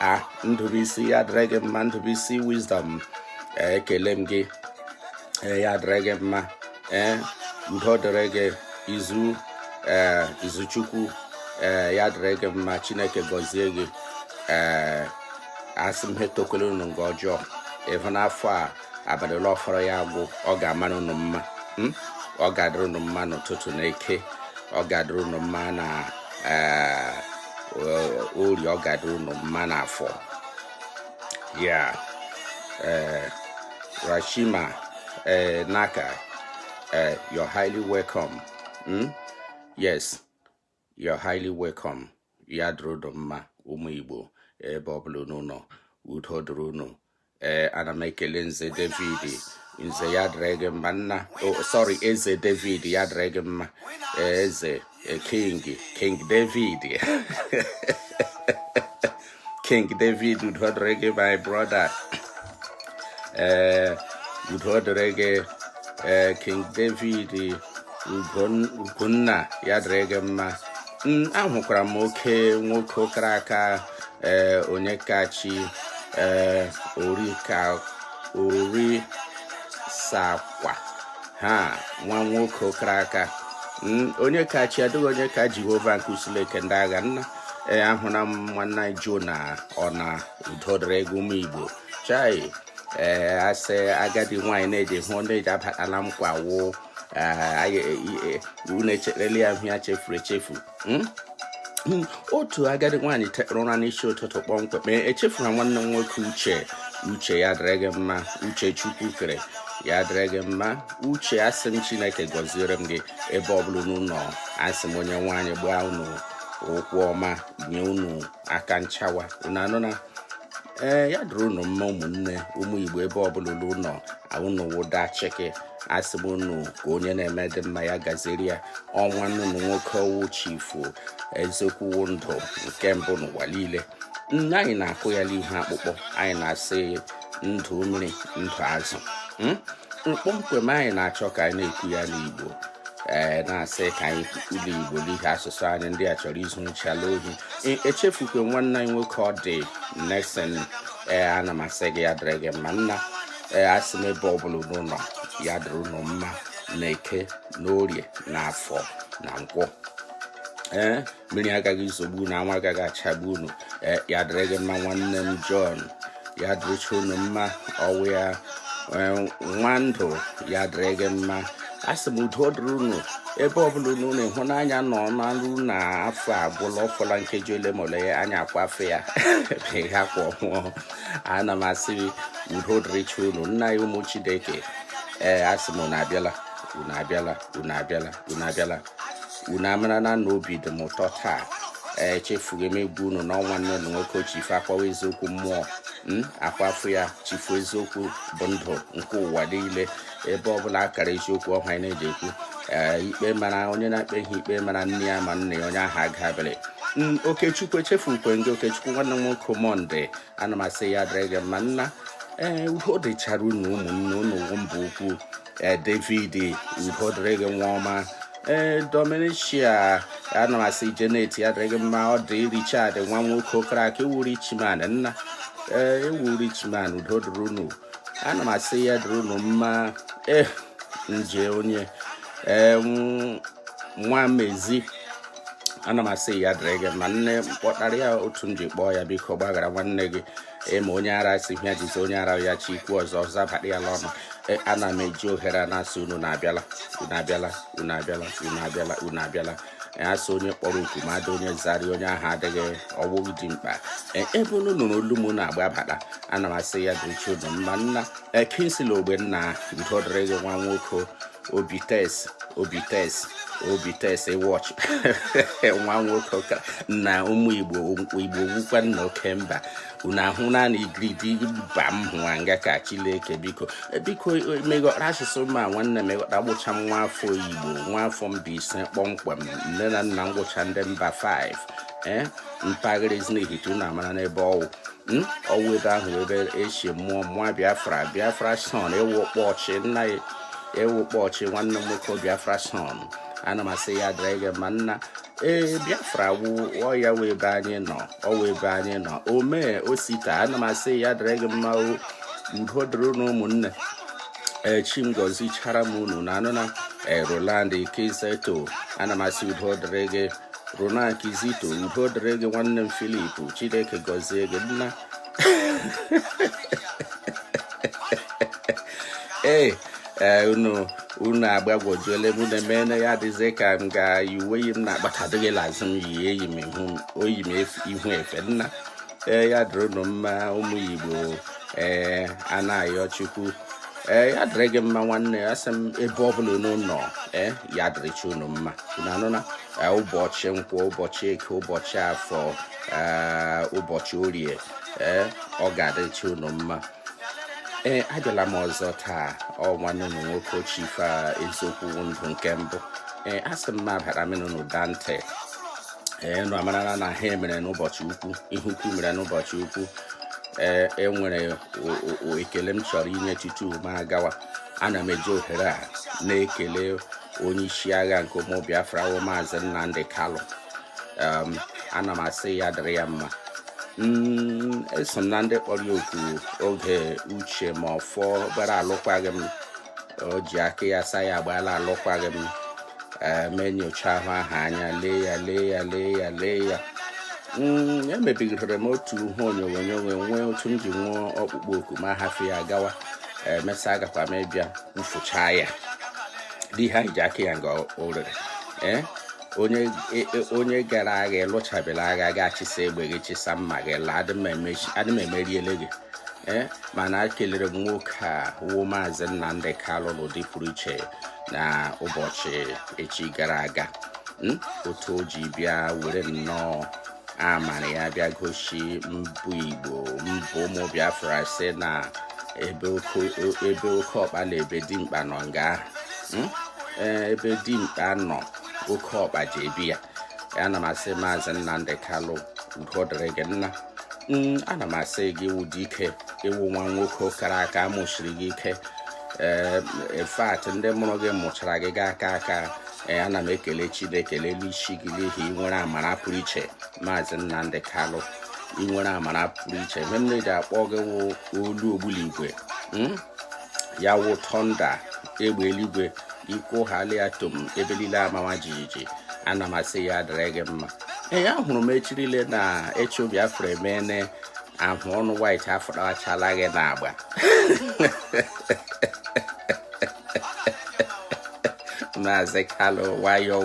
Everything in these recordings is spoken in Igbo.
a ndụbụisi ya dịrị gị mma ndụbụisi wisdom ekele m gị e, ya dịrị gị mma ee udo dịrị gị izu ee izuchukwu ee ya dịrị gị mma chineke gọzie gị ee asị m ha etokwele unu nga ọjọọ ịhụ n'afọ a abalị ole ọ fọrọ ya agwụ ọ ga-amara unu mma hmm? ọ ga-adịrị unu mma n'ụtụtụ na eke ọ ga-adịrị unu mma na eh, ori ọ ga-adịrị unu mma na afọ ya eh, rashima eh, naka you're highly welcome hmm? yes You're highly welcome. Ya dịrị unu mma ụmụ Igbo ebe ọ bụla unu nọ udo dịrị unu ee eh, ana m ekele nze David nze ya dịrị gị mma nna oh, sorry eze David ya dịrị gị mma eh, eze eh, king king David King David udo dịrị gị my brother ee eh, udo dịrị gị ee eh, King David Ugonna ya dịrị gị mma hmm, ahụkwara m oke nwoke kara aka ee eh, Onyekachi ee ori ka Orisakwe ha nwa nwoke kara aka hmm, Onyekachi adịghị onye ka Jehova nke usuu niile nke ndị agha nna ee ahụla m nwanne anyị Jona ọ na udo dịrị gị ụmụ igbo chai ee asị agadi nwaanyị na-eji hụ ndị eji abatala m kwa wụ unu echerela ya hụ ya chefuru echefu hmm? Hmm, otu agadi nwaanyị tekpụrụ ụra n'isi ụtụtụ kpọmkwem echefuru nwanne m nwoke uche uche ya dịrị gị mma uche Chukwukere ya dịrị gị mma uche asị m chineke gọziere m gị ebe ọ bụla unu nọ asị m Onyenweanyị gbaa unu ụkwụ ọma nye unu aka nchawa unu anụna ee ya dịrị unu mma ụmụnne ụmụ igbo ebe ọbụla unu nọ unu wụda chịkị asị m unu ka onye na-eme dị mma ya gaziere ya ọ nwanne unu nwoke ọ wụ chifu eziokwu ndụ nke mbụ n'ụwa niile nne anyị na-akụ ya n'ihu akpụkpọ anyị na-asị ndụ mmiri ndụ azụ hmm? mkpọmkwem anyị na-achọ ka anyị na-ekwu ya n'igbo ee eh, na-asị ka anyị sụọ igbo n'ihi asụsụ anyị ndị a chọrọ izuchala ohi e, echefukwe nwanne anyị nwoke ọ dị Nelson ee eh, ana m asị gị ya dịrị gị mma nna ee eh, asị m ebe ọbụla unu nọ ya dịrị unu mma na eke na orie na afọ na nkwọ ee mmiri agaghị izogbu unu anwụ agaghị achagbu unu eh, ya dịrị gị mma nwanne m John ya dịrịcha unu mma ọwụ ya eh, Nwandụ ya dịrị gị mma asị m udo dịrị unu ebe ọbụla unu na ịhụnanya nọ na nru na afọ agwụla ọfọla nkeji ole ma ole ya anyị akwafe ya ebe ha kwa ọhụụ ana m asị udo dịrịcha unu nna ya ụmụ Chineke ee eh, asị m unu abịala unu abịala unu abịala unu abịala unu amarana na obi dị m ụtọ taa echefughị m egwu unu na ọ nwanne m nwoke chifu akwawa eziokwu mmụọ hmm? akwafu ya chifu eziokwu bụ ndụ nke ụwa niile ebe ọbụla akara eziokwu ọhụrụ anyị na-eji ekwu Eh, ikpe mara onye na-akpe ihe ikpe mara nne ya ma nna ya onye ahụ agabere mm, okechukwu echefu nkwe gị okechukwu nwanne m nwoke monday ana m asị ya dịrị gị mma nna ee eh, udo dịchara unu ụmụnne unu mba ukwu ee eh, david udo dịrị gị nwa ọma ee eh, dominicia ana m asị janet ya dịrị gị mma ọ dị richard nwa nwoke okrak ị wụ richman nna ee eh, ị wụ richman udo dịrị unu ana m asị ya dịrị unu mma ee nje onye ee nwa mezi ana m asị ya dịrị gị mma nne m kpọtara ya otu m ji kpọọ ya biko gbaghara nwanne gị ị ma onye ara sị ya jizi onye ara ya chi okwu ọzọ abara ya n'ọnụ e, ana m eji ohere a na-asị unu na-abịala unu abịala unu abịala unu abịala unu abịala e, asị onye kpọrọ oku ma adị onye zari onye ahụ adịghị ọwụ dị mkpa e, ebe unu nụrụ olu m na-agbabata ana m asị ya dịrịcha unu mma nna kingsley ogbonna udo dịrị gị nwa nwoke obi test obi test obi test watch nwa nwoke ka na ụmụ igbo igbo wụkwa nna oke mba unu ahụ naanị igiridi mba m hụwa nga ka chileke biko e, biko e, meghọta asụsụ m a nwanne m ghọta abụcha m nwa afọ igbo nwa afọ mbaise kpọmkwem nne na nna m wụcha ndị mbaise ee eh, mpaghara ezinihitte unu amara n'ebe ọwụ hmm? ọwụ ebe ahụ ebe e si mụọ m biafra biafra son ị wụ ọkpọchị nna ya ị wụ ọkpọchị nwanne m nwoke biafra son ana m asị ya dịrị gị mma nna ee biafra wụ ọ ya wụ ebe anyị nọ ọwụ ebe anyị nọ omee osita ana m asị ya dịrị gị mma udo dịrị unu ụmụnne chi m gọzichara m unu na anụ na roland kizito ana m asị udo dịrị gị Roland Kizito udo dịrị gị nwanne m Philip Chineke gọzie gị nna ee eh, unu unu agbagwojuole m na emene ya adịzi ka m ga uwe yi m na-akpatadịghị lazụ m yi eyi m oyi m ihu efe nna ee eh, ya dịrị unu mma ụmụ Igbo ee eh, a na-ayọ Chukwu ee ya dịrị gị mma nwanne asị m ebe ọ bụla unu nọ ee ya dịrịcha unu mma unu anụna ụbọchị nkwọ ụbọchị eke ụbọchị afọ ụbọchị orie ee ọ ga-adịrịcha unu mma ee abịala m ọzọ taa ọ nwanne unu nwoke chief eziokwu ndụ nke mbụ ee asị m m abara m unu n'ụda ntị ee nụ amarala na ihe mere n'ụbọchị ukwu ihe ukwu mere n'ụbọchị ukwu ee enwere ekele m chọrọ inye tutu m agawa ana m eji ohere a na-ekele onye isi agha nke ụmụ Biafra wụ maazị Nnamdi Kalụ um, ana m asị ya dịrị ya mma Mm, eso m na ndị kpọrọ ya oku oge Uche Mefor gbara alụkwaghị m o ji aka ya saa ya agbaala alụkwaghị m mee nyocha ahụ ahụ anya lee ya lee ya lee ya lee ya mm, emebigidere m otu ihe onyonyo nwee otu m ji nwee ọkpụkpọ oku ma hafụ ya gawa emesịa agakwa m ịbịa mfụcha ya di ha iji aka ya nga o rere ee onye e, gara agha ị lụchabela agha gị achịsa egbe gị chịsa mma gị laa adị m emeriele gị ee mana kelere m nwoke a wụ maazị Nnamdi Kalụ n'ụdị pụrụ iche na ụbọchị echi gara aga hmm? otu o ji bịa were nnọọ amara ya bịa gosi ma ọ bụ igbo ma ọ bụ ụmụ biafra sị na ebe oke ọkpa na ebe dimkpa nọ nga hmm? e, ebe dimkpa nọ oke ọkpa ji ebi ya ana m asị maazị nnamdi kalụ udo dịrị gị nna hmm, ana m asị gị ị wụ dike ị wụ nwa nwoke kara aka a mụsiri gị ike ee in fact ndị mụrụ gị mụchara gị akaa aka ee ana m ekele chineke n'elu isi gị n'ihi i nwere amara pụrụ iche maazị nnamdi kalụ i nwere amara pụrụ iche ihe m na-eji akpọ gị wụ olu ogbunigwe hmm? ya wụ tọnda egbe eluigwe i kwuhala tom ebe niile amawa jijiji ana m asị ya dịrị gị mma ee ahụrụ m echirile na ịchọ biafra emeene ahụ ọnụ white afụtachala gị n'agba maazị kalụ nwayọọ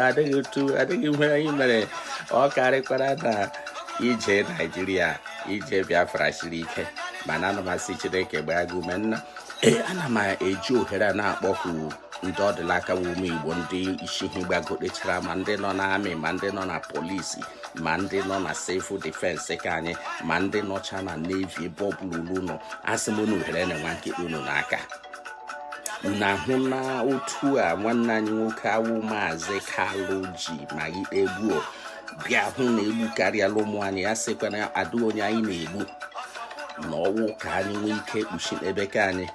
adịghị otu adịghị ihe anyị mere ọ karịkwara na ije naijiria ije biafra siri ike mana ana m asị chineke gbaa gị ume nna ee ana m eji ohere a na-akpọku ndị ọdịlaka bụ ụmụ igbo ndị isi ha gbagotechara ma ndị nọ n'amị ma ndị nọ na polisi ma ndị nọ na sivil difensi ka anyị ma ndị nọcha na nevi ebe ọ bụla unu nọ asị m unu were na nwa nkịta unu n'aka unu ahụ na otu a nwanne anyị nwoke a wụ maazị kalụ ji ma ikpe gbuo bịa hụ na egbu karịala ụmụ anyị ya sịkwa na adịghị onye anyị na-egbu na ọ wụ ka anyị nwee ike kpuchi n'ebe ka anyị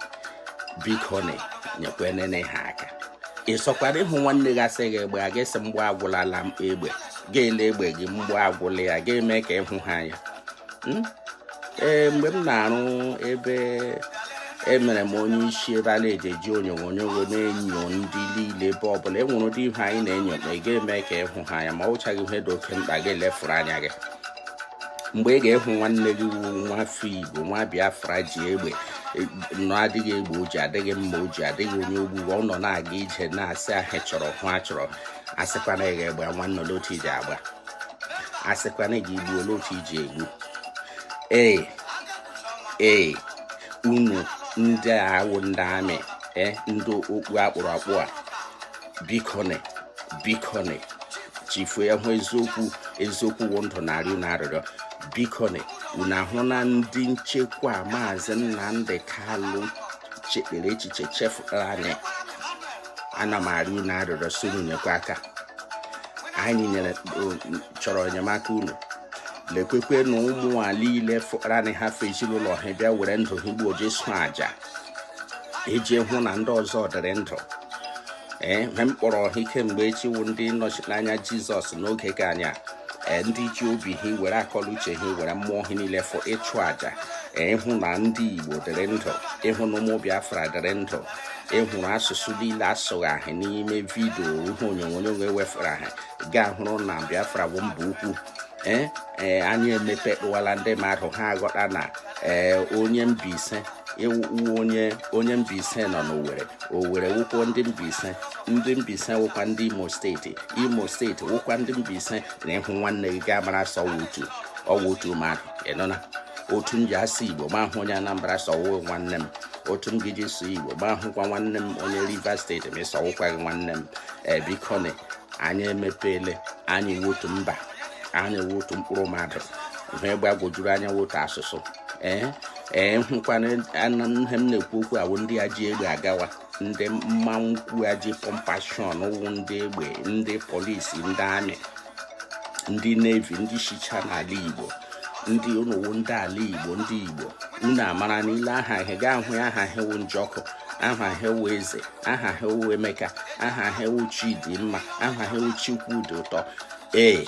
bikone nyekwenene ha aka ị sọkwara ịhụ nwanne gị asị gị gbaa gị asị mgbọ agwụlala m egbe gị lee egbe gị mgbọ agwụla ya gị mee ka ịhụ ha anya hmm? ee mgbe m na-arụ ebe emere m onye isi ebe a na-eji eji onyonyo na-enyo ndị niile ebe ọbụla enwere ụdị ihe anyị na-enyo ị ga-eme ka ịhụ ha anya ma ọ wụchaghị ihe dị oke mkpa gị elefuru anya gị mgbe ị ga-ehụ nwanne gị wu nwa afọ igbo nwa biafra ji egbe e, nọ adịghị egbe o ji adịghị mma o ji adịghị onye o gburu ọ nọ na-aga ije na-asị ahịa chọrọ ihe achọrọ asịkwana gị gbaa nwanne ole otu i ji agba asịkwana gị gbuo ole otu i ji egbu ee ee unu ndị a wụ ndị amị e, ndị okpu akpụrụ akpụ a bikone bikone chifu ya hụ eziokwu eziokwu wụ ndụ na-arịọ unu arịrịọ bikone unu ahụ na ndị nchekwa maazị Nnamdi Kalụ chekpere echiche chefụtara anyị ana m arịọ unu arịrịọ so unu nyekwa aka anyị chọrọ enyemaka unu lekwekwe na ụmụ a niile fụkara hafụ ezinụlọ ha bịa were ndụ ha igbo je chụọ aja iji hụ na ndị ọzọ dịrị ndụ ee mgbe m kpọrọ ha kemgbe echi wụ ndị nnọchiteanya jizọs n'oge ka anyị a e, ndị ji obi ha were akọ na uche ha were mmụọ ha niile fụọ ịchụ àjà e, ịhụ na ndị igbo dịrị ndụ ịhụ na ụmụ biafra dịrị ndụ ịhụrụ asụsụ niile asụgha ahụ n'ime vidio ihe onyonyo ewefere ahụ gị ahụrụ na biafra bụ mba ukwu ee ee anyị emepe kpụwala ndị mmadụ ha aghọta na ee onye Mbaise ị wụ onye onye Mbaise nọ n'Owere Owere wụkwa ndị Mbaise ndị Mbaise wụkwa ndị Imo steeti Imo steeti wụkwa ndị Mbaise na ịhụ nwanne gị gị amara sọ otu ọ wụ otu mmadụ ị nụna otu m ji asụ Igbo m ahụ onye Anambra sị ọ wụ nwanne m otu m gị ji sụọ Igbo m ahụkwa nwanne m onye Rivers steeti m asị ọ wụkwa gị nwanne m ee biko anyị emepeele anyị wụ otu mba anyị wụ otu mkpụrụ mmadụ ihe gbagwojuru anya wụ otu asụsụ ee ee hụkwana ihe m na-ekwu okwu awụ ndị a ji egbe agawa ndị mmanwụ kwu a ji pump action wụ ndị egbe ndị polisi ndị amị ndị nevi ndị shicha n'ala igbo ndị unu wụ ndị ala igbo ndị igbo unu amara na ilee aha ha gị ahụ aha ha wụ njọkụ aha ha wụ eze aha ha wụ emeka aha ha wụ chidimma aha ha wụ chikwudị ụtọ ee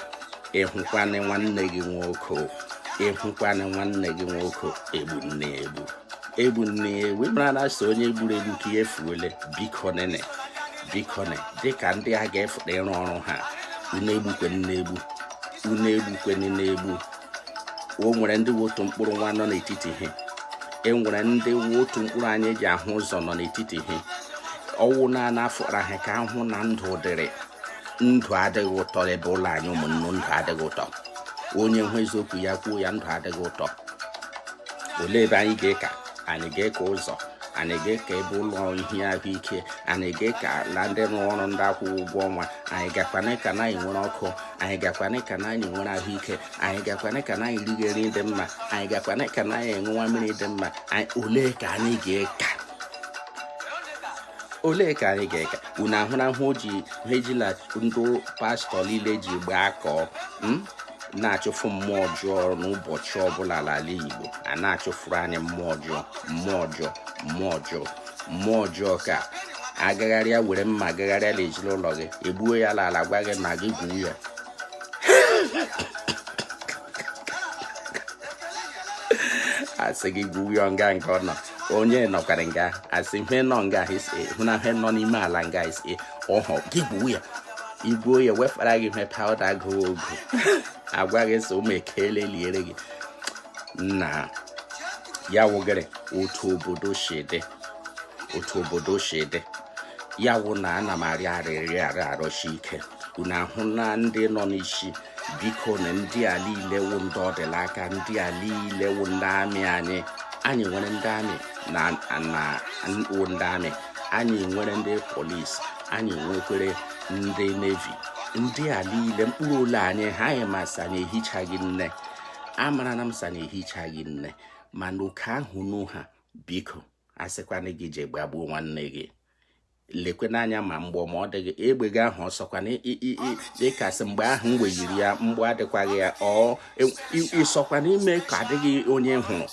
ị hụkwana nwanne gị nwoke ị hụkwana nwanne gị nwoke egbune egbu egbune egbu mara na sọ onye gburu egbu ka ihe fuole bikonene bikone dịka ndị a ga-efụta ịrụ ọrụ ha unu egbukwene egbu unu egbukwene egbu o nwere ndị wụ otu mkpụrụ nwa nọ n'etiti ha e nwere ndị wụ otu mkpụrụ anya e ji ahụ ụzọ nọ n'etiti ha ọ wụ na-ana afọra ha ka a hụ na ndụ dịrị ndụ adịghị ụtọ ebe ụlọ anyị ụmụnne ndụ adịghị ụtọ onye hụ eziokwu ya kwuo ya ndụ adịghị ụtọ olee ebe anyị ga-eka anyị ga-eka ụzọ anyị ga-eka ebe ụlọ ihe ahụike anyị ga-eka na ndị rụrụ ọrụ ndị a kwụghị ụgwọ ọnwa anyị gakwana ka na e nwere ọkụ anyị gakwana ka na anyị nwere ahụike anyị gakwana ka na anyị riga nri dị mma anyị gakwana ka na anyị ṅụwa mmiri dị mma olee ka anyị ga-eka olee ka anyị ga-eka unu ahụrahụ ji ha ejila ndị pastọ niile ji gbakọ hmm? na-achụfụ mmụọ ọjọọ n'ụbọchị ọbụla n'ala Igbo a na-achụfụrụ anyị mmụọ ọjọọ mmụọ ọjọọ mmụọ ọjọọ mmụọ ọjọọ ka agagharịa were mma agagharịa na ezinụlọ gị egbuo ya ala ala gwa gị na gị gwuo ya a sị gị gwuo ya nga nke ọ nọ onye nọkwara nga a sị ihe nọ nga ahụ na ihe nọ n'ime ala nga isi ọhọ gị gwuo ya i gwuo ya wefara gị ihe pawụda agụghị ogu a gwa gị sị ụmụ ekele liere gị na ya wụgịrị otu obodo si dị otu obodo si dị ya wụ na ana m arịọ arịrịọ arị arịọsi ike unu ahụ na ndị nọ n'isi biko na ndị a niile wụ ndị ọ dị l'aka ndị a niile wụ ndị amị anyị anyị nwere ndị amị na wụ ndị amị anyị nwere ndị polis anyị nwekwere ndị nevi ndị a niile mkpụrụ ole anyị ha anyị ma sị anyị ehichaghị nne amarana m sị unu ehichaghị nne mana oke ahụ unu ha biko a sịkwana gị je gbagbuo nwanne gị lekwene anya ma mgbọ ma ọ dịghị egbe gị ahụ ọ sọkwa na ị ka sị mgbe ahụ m weyiri ya mgbọ adịkwaghị ya ọ ị sọkwa na i me ka adịghị onye hụrụ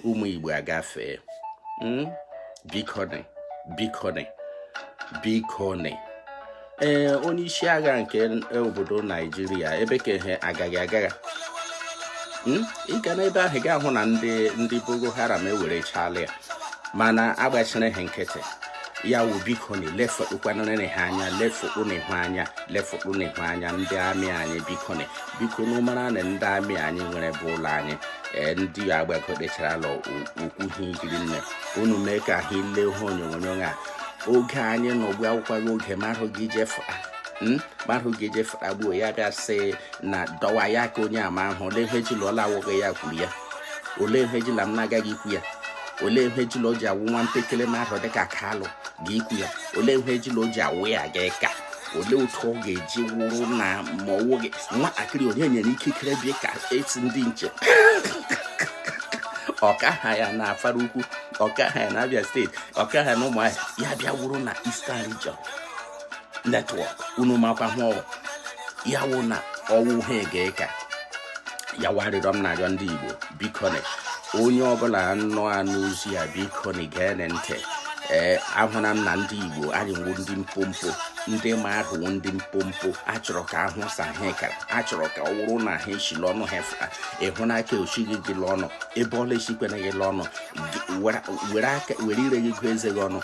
ụmụ igbo agafee hmm? bikoni bikoni bikoni ee onye isi agha nke obodo naijiria ebe ka ihe agaghị agagha hmm? ị ga n'ebe ahụ ga-ahụ na ndị ndị boko haram ewerechala ya mana a gbachiri ha nkịtị ya wụ bikoni lefekpukwanụrịrị ha anya lefekpụ na ihu anya lefekpụ na ihu anya ndị amị anyị bikoni bikonị ụmara na ndị amị anyị nwere bụ ụlọ anyị ee ndị agba ekpechara lọ okwu ha ikiri nne unu mee ka ha ile ihe onyonyo a oge anyị na ụgbọ akwụkwọ gị oge marụ gị jefa hmm? marụ gị jefụta gbuo ya bịa sị na dọwa ya ka onye ama ahụ olee ihe ji lụọla awụghị ya kwuru ya olee ihe ji na m na-agaghị ikwu ya olee ihe ji na o ji awụ nwa mpekele marụ dịka kalụ ga ikwu ya olee ihe ji na o ji awụ ya ga ịka olee otu ọ ga-eji wụrụ na ma ọ wụghị nwatakịrị onye nyere ikikere bịa ka sị ndị nche ọkaha ya na afara ukwu ọkaha ya na abia steeti ọkaha ya na ụmụahịa ya bịa wụrụ na Eastern Region network unu makwa hụ ọwụ ya wụ na ọwụ ha ga-eka ya wụ arịrịọ m na-arịọ ndị Igbo bikonị onye ọbụla na-anụ ozi a bikonị gee ntị ee ahụla m na ndị Igbo anyị wụ ndị mpompo ndị marụ wụ ndị mpompo achọrọ ka ahụ sa ha kara achọrọ ka ọ wụrụ na ha eshila ọnụ ha fụta ịhụ nke o shighị gị l'ọnụ ebe ọla esikwena gị l'ọnụ were ire gị gụọ eze gị ọnụ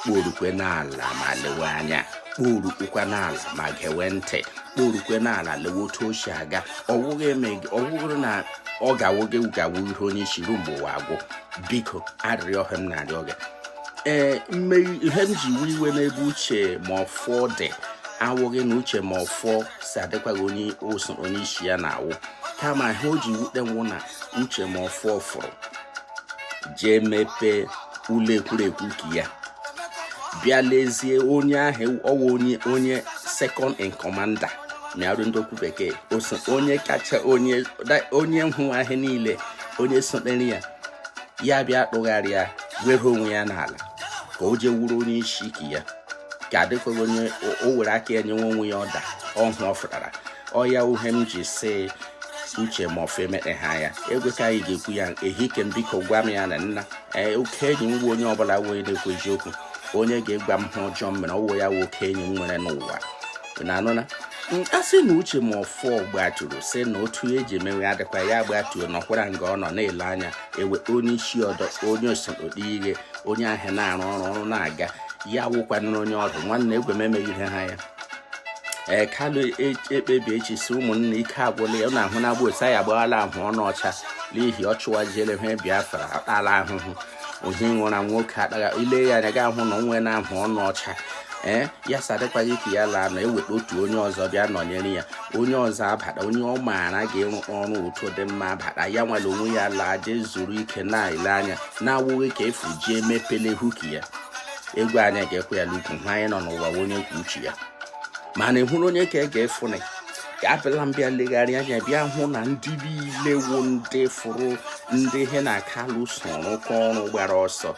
kporukwe n'ala ma lewe anya kporukwa n'ala ma gewe ntị kporukwe n'ala lewe otu o si aga ọwụghị na ọ ga-awụ gị ga-awụ ihe onye isi ruo mgbe ụwa agwụ biko arịrịọ ka m na-arịọ gị ee ihe m ji iwe iwe n'ebe uche mefor dị awụghị na uche mefor sị adịkwaghị onye oso onye isi ya na-awụ kama ihe o ji wute m wụ na uche mefor fụrụ jee mepee ụlọ ekwurekwu ka ya bịa lezie onye ahụ ọwụ onye onye second in commander mịarụ ndị okwu bekee oso onye kacha onye onye nhụ ahịa niile onye sotere ya ya bịa tụgharịa were onwe ya n'ala ka o jee wụrụ onye isi ike ya ka adịkwaghị onye o were aka ya nyewe onwe ya ọda ọhụ ọ fụtara ọ ya wụ ihe m ji sị uche mefor emeteha ya egwe ka anyị ga-ekwu ya ehike m biko gwa m ya na nna ee oke enyi m onye ọbụla wee na-ekwu eziokwu onye ga-egwa m ihe ọjọọ m mere ọwụ ya wụ oke enyi m nwere n'ụwa na anụ na a sị na uche mefor gbaturu sị na otu eji emewe adịkwa ya gbatuo nọkwara nga ọ nọ na-ele anya ewe onye isi ọdọ onye osote ihe onye ahụ na-arụ ọrụ ọrụ na-aga ya wụkwanụrụ onye ọdụ nwanne egwe m emeghị ihe ha ya ee kalụ ekpebi echi sị ụmụnna ike agwụla ya na-ahụ na agba otu anyị agbaghara ahụ ọnụ ọcha n'ihi ọ chụwajiele ihe biafra atala ahụhụ ohi nwụra nwoke akpagha ile ya anya ga ahụ na o nwena ahụ ọnụ ọcha ee ya sị adịkwaghị ka ya laa na eweta otu onye ọzọ bịa nọnyere ya onye ọzọ abata onye ọ maara ga-enwe ọrụ otu dị mma abata ya were onwe ya laa jee zuru ike na-ele anya na-awụghị ka ọ fụọ jee mepele huki ya egwu anyị ga-ekwe ya n'ukwu ha anyị nọ n'ụwa onye kwuo uche ya mana ị hụrụ onye ka e ga-efụnị ka abịala m bịa legharịa anya bịa hụ na ndị niile wụ ndị fụrụ ndị he na kalụ so rụkọ ọrụ gbara ọsọ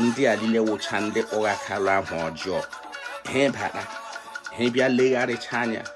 ndị a niile wụcha ndị kpọgha kalụ aha ọjọọ ha bata ha bịa legharịcha anya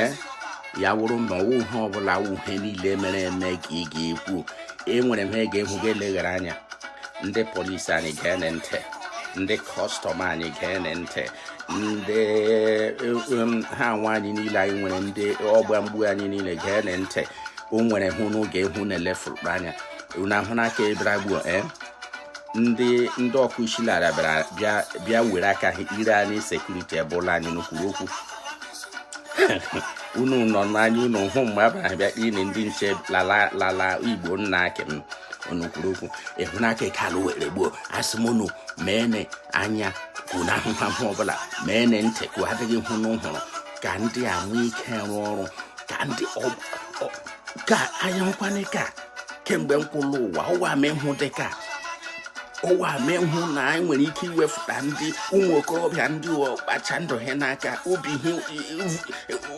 ee ya wụrụ na ọ wụ ihe ọbụla wụ ihe niile mere eme ka ị ga-ekwu enwere m ha ga-ehu gị eleghara anya ndị polisi anyị geene ntị ndị kọstọm anyị geene ntị ndị um, ha nwa anyị niile anyị nwere ndị ọgba mgbọ anyị niile geene ntị o nwere ihe unu ga-ahụ unu elefuru anya unu ahụ n'aka ebere gbuo ee eh? ndị ndị ọkụ isi na bịa were aka ha hiere anyị sekuriti ebe ụlọ anyị unu kwuru okwu unu nọ n'anya unu hụ mgbe a bịara bịa kpee ndị nche l'ala igbo nna akị m unu kwuru okwu ị hụ nke kalụ were gbuo asị m unu meene anya ka unu ahụghị ihe ọbụla meene ntị ka ọ dịghị ihe unu hụrụ ka ndị a nwee ike rụọ ọrụ ka ndị ka anya nkwanye ka kemgbe m kwụrụ ụwa ụwa m ịhụ dị ka ụwa m ịhụ na anyị nwere ike iwefụta ndị ụmụ okorobịa ndị ọkpacha ndụ ha n'aka obi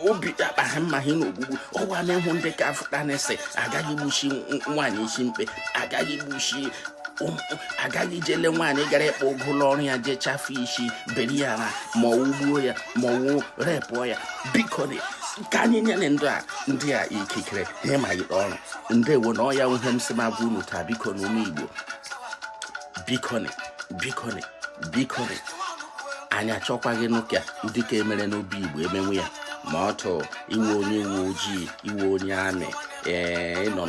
obi akpa ha mma ha n'ogbugbu ụwa m ịhụ ndị ga-afụtanị sị agaghị gbuchi nwaanyị isi mkpe agaghị gbuchi agaghị jele nwaanyị gara ịkpa ụgụ l'ọrụ ya jee chafụ isi beri ya na ma ọ wụ gbuo ya ma ọ wụ repụọ ya biko ka anyị nyere ndị a ndị a ikikere ihe ma yikpe ọrụ ndewo na ọ ya wụ ihe m sị m gwa unu taa bikoni ụmụ igbo bikoni bikoni bikoni anyị achọkwaghịnụ ka ụdị nke e mere n'obigbo emewe ya ma ọ tụ ị wụ onye uwe ojii ị wụ onye amị ee ị nọ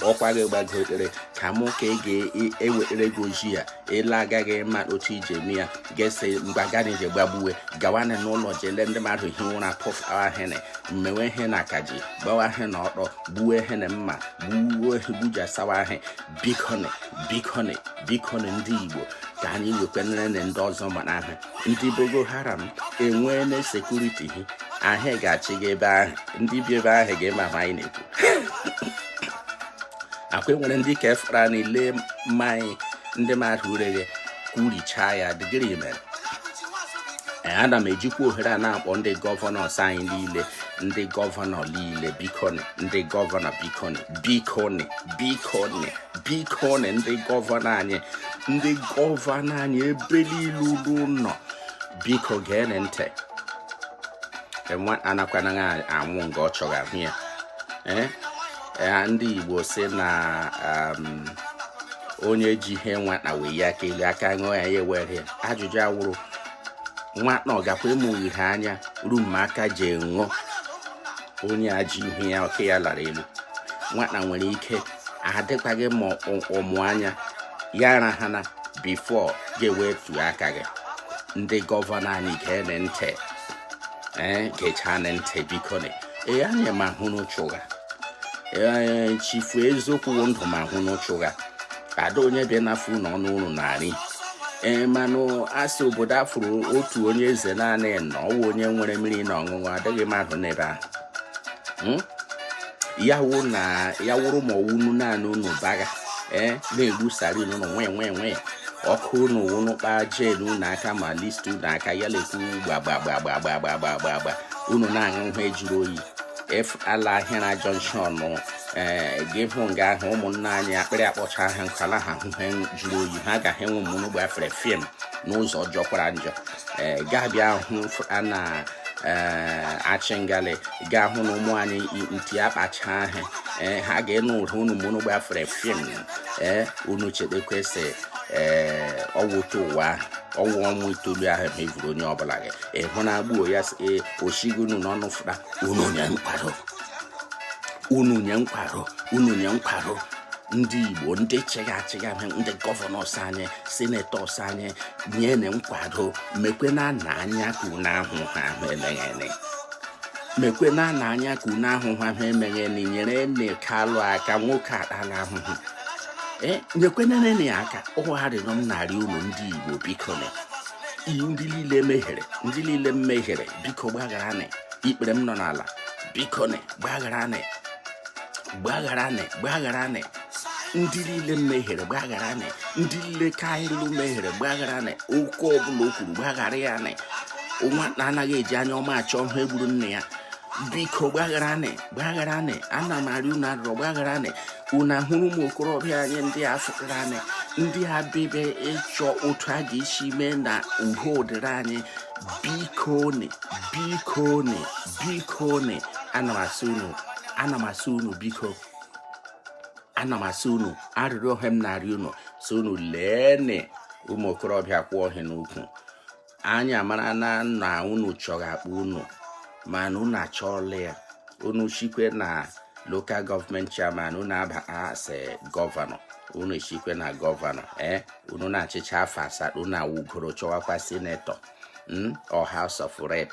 n'ọkwa gị gbagotere ka mụ ka ị ga-ewetara gị ojii ya ele agaghị ama otu i ji eme ya ga-ese mgbe agaghị ji gbagbuwe gawanị n'ụlọ jele ndị mmadụ hi ụra pụfawa hene mmewe ihe na akaji gbawa ihe na ọkpọ gbuwe ihe na mma gbuwe gbujasawa ihe bikoni bikoni bikoni ndị igbo ka anyị wekwenere na ndị ọzọ mara ahụ ndị boko haram enweela sekuriti hi ahịa ga-achị gị ebe ahụ ndị bi ebe ahụ ga-eme ahụ anyị na-ekwu akwa enwere ndị ka efere anyị lee mmanya ndị mmadụ ureghe kwurichaa ya dịgịrị mere ana m ejikwa ohere a na-akpọ ndị gọvanọs anyị niile ndị gọvanọ niile bikoni ndị gọvanọ bikoni bikoni bikoni bikoni ndị gọvanọ anyị ndị gọvanọ anyị ebe niile ulu nọ biko gee ntị anakwana anwụ nga ọ chọrọ ahụ ya ee eh? ya ndị Igbo sị na um, onye ji ihe nwata welie aka elu aka ṅụọ ya ya ewere ajụjụ awụrụ nwata ọ gakwa emeghe anya ruo ma aka ji ṅụọ onye a ji ihe ya aka ya lara elu nwata nwere ike adịkwaghị ma ọ mụ anya ya arahana before gị ewetu aka gị ndị gọvanọ anyị geenị ntị ee gechaanị ntị bikonị ee anyị ma hụ n'ụchụ ụgha ee chifu eziokwu wụ ndụ m ahụ n'ụchụ ụgha ada onye bịa n'afọ ụlọ ọnụ ụlọ narị ee manụ asị obodo afụrụ otu onye eze naanị na ọ wụ onye nwere mmiri na ọṅụṅụ adịghị mmadụ n'ebe ahụ Hmm? ya wụ na ya wụrụ ma ọ wụ unu naanị unu bagha ee na-egbu siren unu nwee nwee nwee ọkụ unu wụnụ kpaa gen unu aka ma Lister unu aka ya na-ekwu gbagbagbagbagbagbagbagba unu na-aṅụ ihe jụrụ oyi efu ala Ahịara junction ee gị hụ nga ahụ ụmụnna anyị akpịrị akpọcha ha nkala ha hụ ihe jụrụ oyi ha agaghị enwe mụnụ gbafere fim n'ụzọ jọkwara njọ ee gaa bịa hụ a na Achingali ga-ahụ na ụmụ anyị nti akpacha ahụ ee ha ga-enụ ụra unu ma unu gbafere fim ee unu chedekwesị ee ọwụta ụwa ọ wụ ọnwa itoolu ahụ ma e vuru onye ọbụla gị ịhụ na agbuo ya ee o shigo unu n'ọnụ fụta unu nye nkwado unu nye nkwado unu nye nkwado ndị Igbo ndị chịga achịga ndị gọvanọs anyị senetọs anyị nyenị nkwado mekwe na nna anya ka unu ahụ ha ahụ eleghị mekwe na na anya ka unu ahụhụ ahụ emeghị na inyere nne Kalụ aka nwoke atala ahụhụ e, nyekwenerenị ya aka ọ wụ arịrịọ m na-arị unu ndị Igbo bikonị ndị niile mehiere ndị niile mehiere biko gbagharanị ikpere m nọ n'ala bikonị gbagharanị gbagharanị gbagharanị ndị niile mehiere gbagharanị ndị niile Kalụ mehiere gbagharanị okwu ọbụla o kwuru gbaghara ya nị nwa anaghị eji anya ọma achọ ihe gburu nne ya biko gbagharanị gbagharanị ana m arị unu arịrịọ gbagharanị unu ahụrụ ụmụ okorobịa anyị ndị a fụtaranị ndị a bịbe ịchọ otu a ga-esi mee na ihe dịrị anyị bikonị bikonị bikonị ana m asị unu ana m asị unu biko ana m arị unu arịrịọ ihe m na-arị unu sị unu leenị ụmụ okorobịa kwụ ohi n'ukwu anyị amara na na unu chọrọ akpa unu mana unu achọọla ya unu shikwe na local government chairman unu aba as gọvanọ unu shikwe na gọvanọ ee eh, unu na-achịcha afọ asatọ unu awụgoro chọwakwa senetọ hmm, or house of rep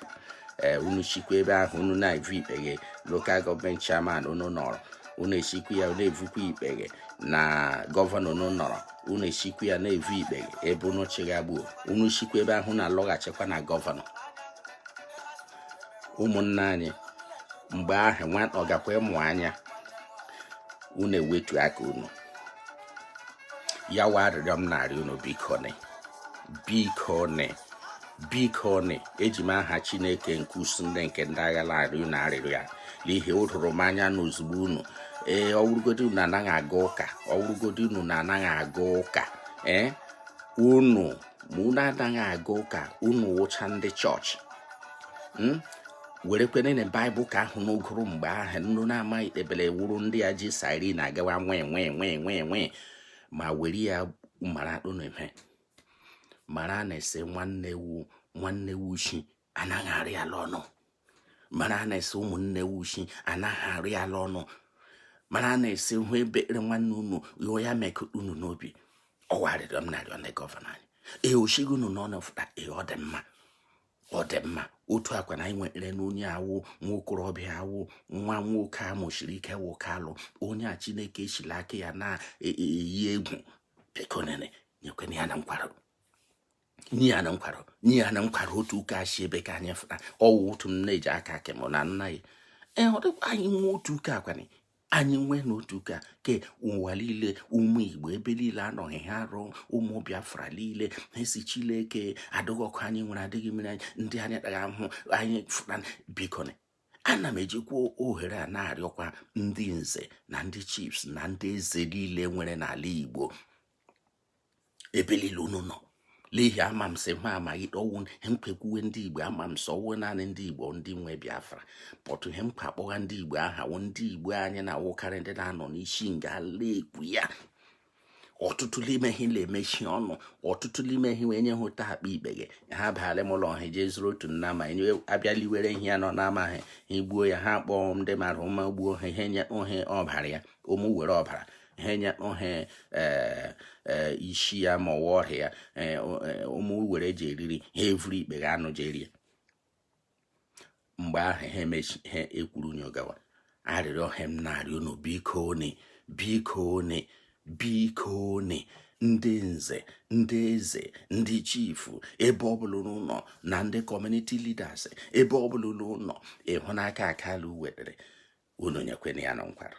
eh, unu sikwa ebe ahụ unu na-evu ikpeghe local government chairman unu nọrọ unu esikwu ya na-evukwa ikpeghe na gọvanọ unu nọrọ unu esikwu ya na-evu ikpeghe ebe unu chịghagbuo unu sikwa ebe ahụ na-alọghachikwa na gọvanọ ụmụnna anyị mgbe ahụ nwa ọ gakwa ịmụ anya unu ewetu aka unu ya wụ arịrịọ m na-arịọ unu biko ni biko ni biko ni eji m aha chineke nke usuu niile nke ndị agha na-arịọ unu arịrịọ a n'ihi o doro m anya na ozugbo unu ee ọ wụrụgodi unu anaghị aga ụka ọ wụrụgodi unu na anaghị aga ụka ee unu ma unu anaghị aga ụka unu wụcha ndị chọọchị hmm? were kwere na baịbụl ka ahụ unu gụrụ mgbe ahụ unu na-amaghị ebele wụrụ ndị e ji siren na-agawa wee wee wee wee wee ma were ya mara akpụ na mara na a sị nwanne wu nwanne wuchi anaghị arị ala ọnụ mara na a sị ụmụnne wuchi anaghị arị ala ọnụ mara na a sị hụ ebere nwanne unu yụọ ya meke unu n'obi ọ wụ arịrịọ m na-arịọ ndị gọvanọ anyị ee o sigo unu n'ọnụ fụta ee ọ dị mma ọ dị mma otu akwa na anyị nwere n'onye a wụ nwa okorobịa a wụ nwa nwoke a mụsiri ike wụ kalu onye a chineke esi n'aka ya na-eyi e, e, egwu biko nene nyekwana ya na nkwado nye ya na nkwado nye ya na nkwado otu ụka si ebe ka anyị fụta ọ wụ otu m na-eji aka akị m na nna ya ee ọ dịkwa anyị nwe otu ụka akwanye anyị nwee n'otu ka ke ụwa niile ụmụ igbo ebe niile anọghị ha arụ ụmụ biafra niile na-asị chileke adịghị ọkụ anyị nwere adịghị mmiri anyị ndị anyị kpaghị ahụ anyị fụta biko ana m ejikwa ohere a na-arịọkwa ndị nze na ndị chiefs na ndị eze niile nwere n'ala igbo ebe niile unu nọ n'ihi ama m sị ma amaghị ọ wụ ihe mkpekwuwe ndị igbo ama m sị ọ wụ naanị ndị igbo ndị nwe biafra pọtụ ihe mkpa akpọgha ndị igbo aha wụ ndị igbo anyị na-awụkarị ndị na-anọ n'isi nga a na-ekwu ya ọtụtụ n'ime ha na-emechi ọnụ ọtụtụ n'ime ha wee nye ha otu akpa ikpeghe ha baara m ụlọ ha jee zụrụ otu nnama enye abịaliwere ihe ya nọ n'amaghị ha egbuo ya ha kpọọ ndị mara ụma gbuo ha ihe nye ohe ọbara ya ụmụ were ọbara ha enyekpọ ha eh, eh, isi ya ma ọ wụ ọrịa ya eh, ụmụ were ji eriri ha evuru ikpeghe ahụ jee rie mgbe ahụ ha emechi ha ekwuru nyogawa arịrịọ a m na-arịọ unu biko ni biko ni biko ni ndị nze ndị eze ndị chifu ebe ọbụla unu nọ na ndị community leaders ebe ọbụla unu nọ ịhụnaka kalu wetere unu nyekwena ya na nkwado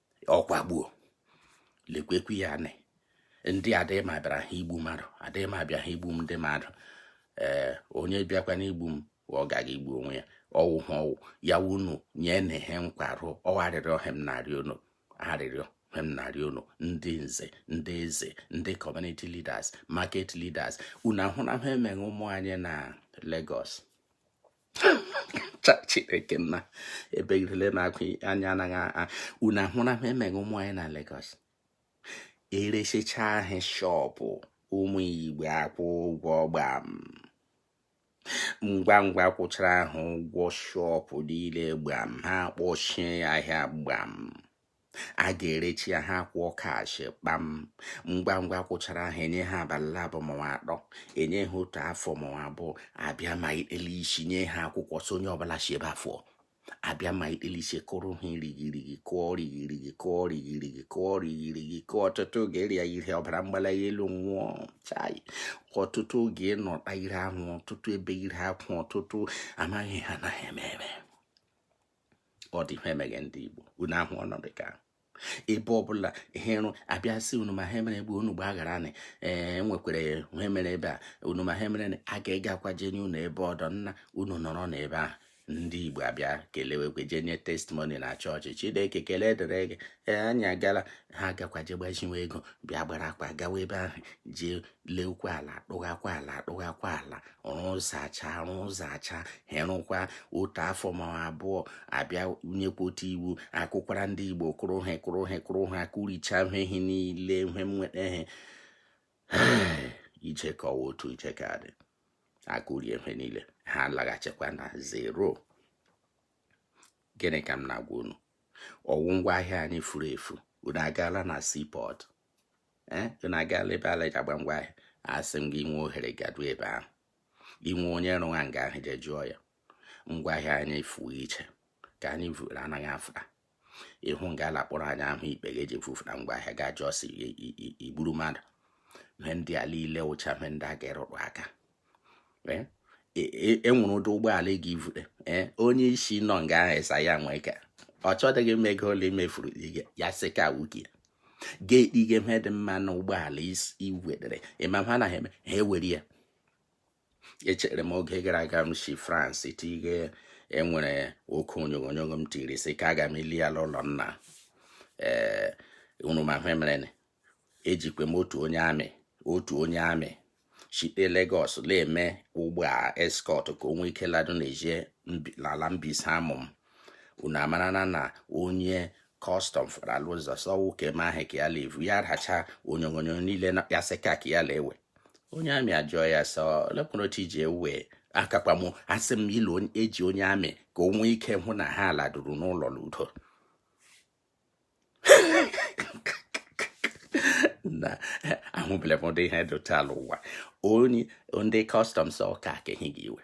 ọkwa gbuo lekwekwu ya anị ndị adịghị ma bịara ha igbu mmadụ adịghị ma bịa ha igbu m ndị mmadụ ee onye bịakwara igbu m ọ ga igbu onwe ya ọ wụ ha ọ wụ ya wunu nye na ihe nkwarụ ọ wụ arịrịọ ka m na-arịọ unu arịrịọ ka m na-arịọ unu ndị nze ndị eze ndị community leaders market leaders unu ahụna ihe emeghe ụmụ anyị na Lagos chai chineke nna ebe irele na-agụ anya anaghị unu ahụra ihe emeghe ụmụ anyị na Lagos eresicha ha shop ụmụ igbo akwụọ ụgwọ gbam ngwa ngwa kwụchara ha ụgwọ shop niile gbam ha kpọchie ahịa gbam a ga-erechi ya ha kwụọ cash kpam ngwa ngwa kwụchara ha enye ha abalị abụọ ma ọ wụ atọ enye ha otu afọ ma ọ wụ abụọ abịa ma ikpele isi nye ha akwụkwọ sị onye ọbụla si ebe a fụọ abịa ma ikpele isi kụrụ ha rigirigi kụọ rigirigi kụọ rigirigi kụọ rigirigi kụọ ọtụtụ oge ịrịa ihe ọbara mgbali elu nwụọ chai ọtụtụ oge ịnọta ire ahụ ọtụtụ ebe ire akwụ ọtụtụ amaghị ihe ha na-eme eme ọ dị ihe emeghe ndị Igbo unu ahụ ọnọdụ ka ebe ọbụla ihe rụ abịa sị unu ma ihe mere ebe unu gbaghara anyị ee e nwekwara ihe e mere ebe a unu ma ihe mere a ga-agakwa je nye unu ebe ọdọ nna unu nọrọ n'ebe ahụ ndị igbo abịa kelewekwe jee nye testimony na chọọchị chineke ekele dịrị gị ee anyị agala ha gakwa jee gbaziwe ego bịa gbara akwa gawa ebe ahụ jee leekwa ala dụghakwa ala dụghakwa ala rụzacha rụzacha herụkwa otu afọ ma abụọ abịa nyekwa otu iwu akụkwara ndị igbo kụrụ ha kụrụ ha kụrụ ha kụricha ha ihe niile e nwetara ije ka ọwa otu ije ka dị akụrie ihe niile ha laghachikwa na zero gịnị ka m na-agwa unu ọ wụ ngwa ahịa anyị furu efu unu agaala na seaport eh, unu agaala ebe a la-eji agba ngwa ahịa asị m gị i nwee ohere gadu ebe ahụ i nwee onye rụwa nga ahụ je jụọ ya ngwa ahịa anyị fuo i che ka anyị vụrụ anaghị afụta ị hụ nga ala kpọrọ anyị ahụ ikpe ga-eji vufụta ngwa ahịa ga jụọ sị i gburu mmadụ ihe ndị a niile wụcha ihe ndị a ga-arụtụ aka eh, e, e, enwere ụdị ụgbọala ị ga-evute eh, onye isi nọ nga ahụ asị ya nwee ka ọ chọdịghị ịma ego ole i mefuru ya sị ka wuki ya ga-ekpe ihe ihe dị mma na ụgbọala iwedere ị ma ihe ha na-eme ha ewere ya echere m oge gara aga m si France tige enwere oke onyonyo m tiri sị ka aga m ili ya n'ụlọ nna ee eh, unu ma ihe e mere ejikwe m otu onye amị otu onye amị site Lagos na-eme ụgbọ a escort ka o nwee ike lado na-eje n'ala Mbaise amụ m unu amarana na onye custom fara alụ ụzọ sọwụ ka eme ahụ ka ya levu ya racha onyonyo niile ya sị ka ka ya lewe onye amị ajụọ ya sọ lepụrụ otu iji ewe akakpamụ asị m ilu eji onye amị ka o nwee ike hụ na ha laduru n'ụlọ n'udo na ahụbele m ụdị ihe dị otu a la ụwa onye ndị customs ọka akeghị gị iwe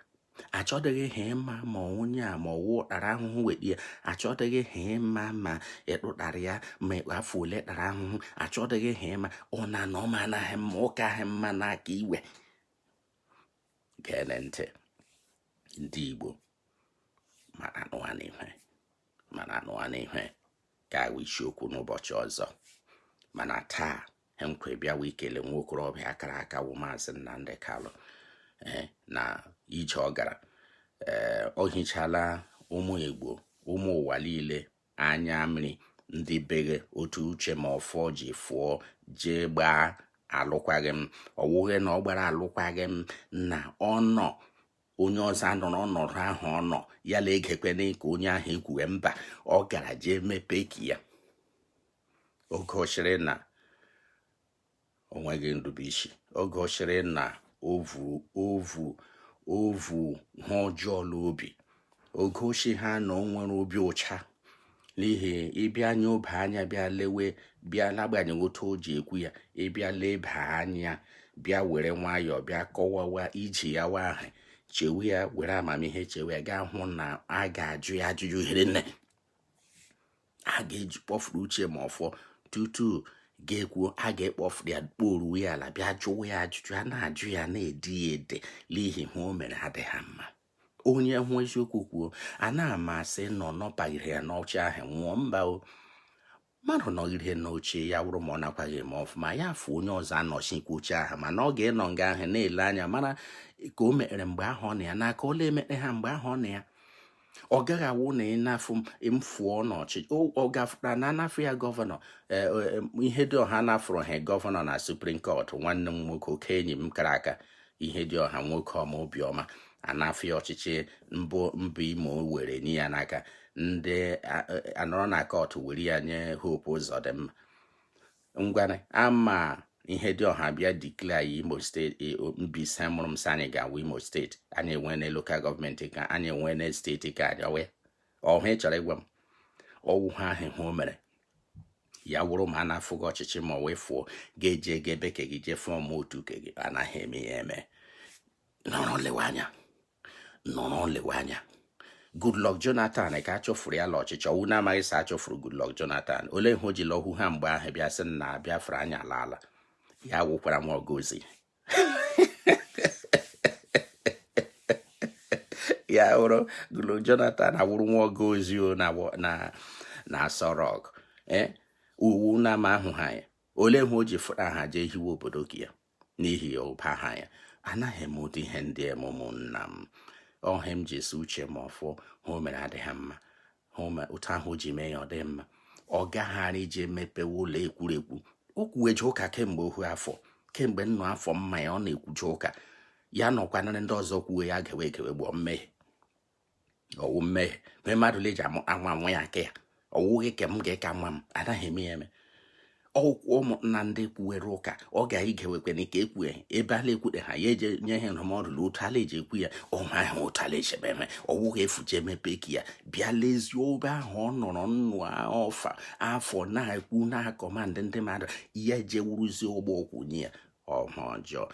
achọdịghị ha ịma ma onye a ma ọ wụ ọ tara ahụhụ weta ya achọdịghị ha ịma ma ị tụtara ya ma afọ ole tara ahụhụ achọdịghị ha ịma ọ na na ọma anaghị mma ụka ahụ mma n'aka iwe geenụ ntị ndị Igbo mana anụwa n'ihe mana anụwa n'ihe ka awụ isiokwu n'ụbọchị ọzọ mana taa nke bịawa ikele nwa okorobịa akara aka wụ maazị Nnamdi Kalụ eh, na ije ọ gara eh, ọ hichala ụmụ Igbo ụmụ ụwa niile anya mmiri ndị beghe otu Uche Mefor ji fụọ jee gbaa alụkwaghịm ọ wụghị na ọ gbara alụkwaghịm na ọ nọ onye ọzọ anọrọ ọnọdụ ahụ ọ nọ ya na egekwene ka onye ahụ ekwuwe mba ọ gara jee mepee ke ya o gosiri na o nweghị nrubeisi o gosiri na o vu o vu o vu ihe ọjọọ n'obi o gosighị na o nwere obi ụcha n'ihi ị bịa leba anya bịa lewe bịa n'agbanyeghị otu o ji ekwu ya ị bịa leba anya bịa were nwayọọ bịa kọwawa iji ya wa ahụ chewe ya were amamihe chewe ya ị ga-ahụ na a ga-ajụ ya ajụjụ ihe mere a ga-eji kpọfuru Uche Mefor tutu ga-ekwu a ga-ekpọfụ ya kporu ya ala bịa jụwa ya ajụjụ a na-ajụ ya na-edi ya ede n'ihi ihe o mere adịghị mma onye hụ eziokwu kwuo anaghị m asị nọ nọpaghere ya n'oche ahụ nwụọ mba o mmadụ nọgide n'oche ya wụrụ ma ọ nakwaghị eme ọfụma ya fụ onye ọzọ anọchikwa oche ahụ mana ọ ga-anọ nga ahụ na-ele anya mara ka o mekpere mgbe ahụ ọ na ya n'aka ole emekpe ha mgbe ahụ ọ na ya ọ gaghị awụ na ịnafụ mfụọ n'oche ọ gafụra na anafụ ya governor e, e, e, Ihedioha nafụrụ ya governor na Supreme Court nwanne m nwoke oke enyi m kara aka Ihedioha nwoke ọma obiọma anafụ ya ọchịchị mbụ mba Imo were ya n'aka ndị anọrọ na court were ya nye Hope Uzodimma ngwana ama Ihedioha bịa declare anyị Imo State e, Mbaise mụrụ m sị anyị ga-awụ Imo State anyị enwene local government ke anyị enwene state ke anyị ọhụ ị chọrọ ịgwa m ọ wụ ihe ahụ o mere ya wụrụ ma a nafụ gị ọchịchị ma ọ wee fụọ ga-eje ga ebe ke gị jee form otu ke gị anaghị eme ya eme nọrọ lewe anya nọrọ lewe anya Goodluck Jonathan ka a chụfuru ya la ọchịchị ọ wụ na ị maghị sị a chụfuru Goodluck Jonathan olee ihe o ji lọhu ha mgbe ahụ bịa sị na Biafra anya ala ala ya wụkwara nwa ọga ozi ya wụrụ Goodluck Jonathan awụrụ nwa ọga ozi na Aso Rock eh? ọ wụ na ama ahụ ha ya olee ihe o ji fụta ha jee hiwe obodo ke ya n'ihi ụba ha ya anaghị eme ụdị ihe ndị a ụmụnna m ọ ihe m ji asị uche m ọfụ ha o mere adịghị mma otu ahụ o ji mee ya ọ dị mma ọ gaghara ije mepewe ụlọ ekwurekwu o kwuweje ụka kemgbe ohu afọ kemgbe nnụ afọ m ma ya ọ na-ekwuje ụka ya nọkwanarị ndị ọzọ kwuwe ya gewe egewe gboo mmehie ọ wụ mmehie mee mmadụ leji anwa anwa ya aka ya ọ wụghị ke m ga-aka nwa m anaghị eme ya eme ọkwụkwọ ụmụnna ndị kwuwere ụka ọ ga-igewekwe na ike ekwue ebe a la-ekwute ha ya eje nye ha ndụmọdụ na otu a la-eji ekwu ya ọnwa ahụ otu ala echebe ha ọ wụghị efu ji emepe ka ya bịa lezie ebe ahụ ọ nọrọ nnụ afọ na-ekwu na-command ndị mmadụ ya jewuruzie ụgbọ okwu nye ya aha ọjọọ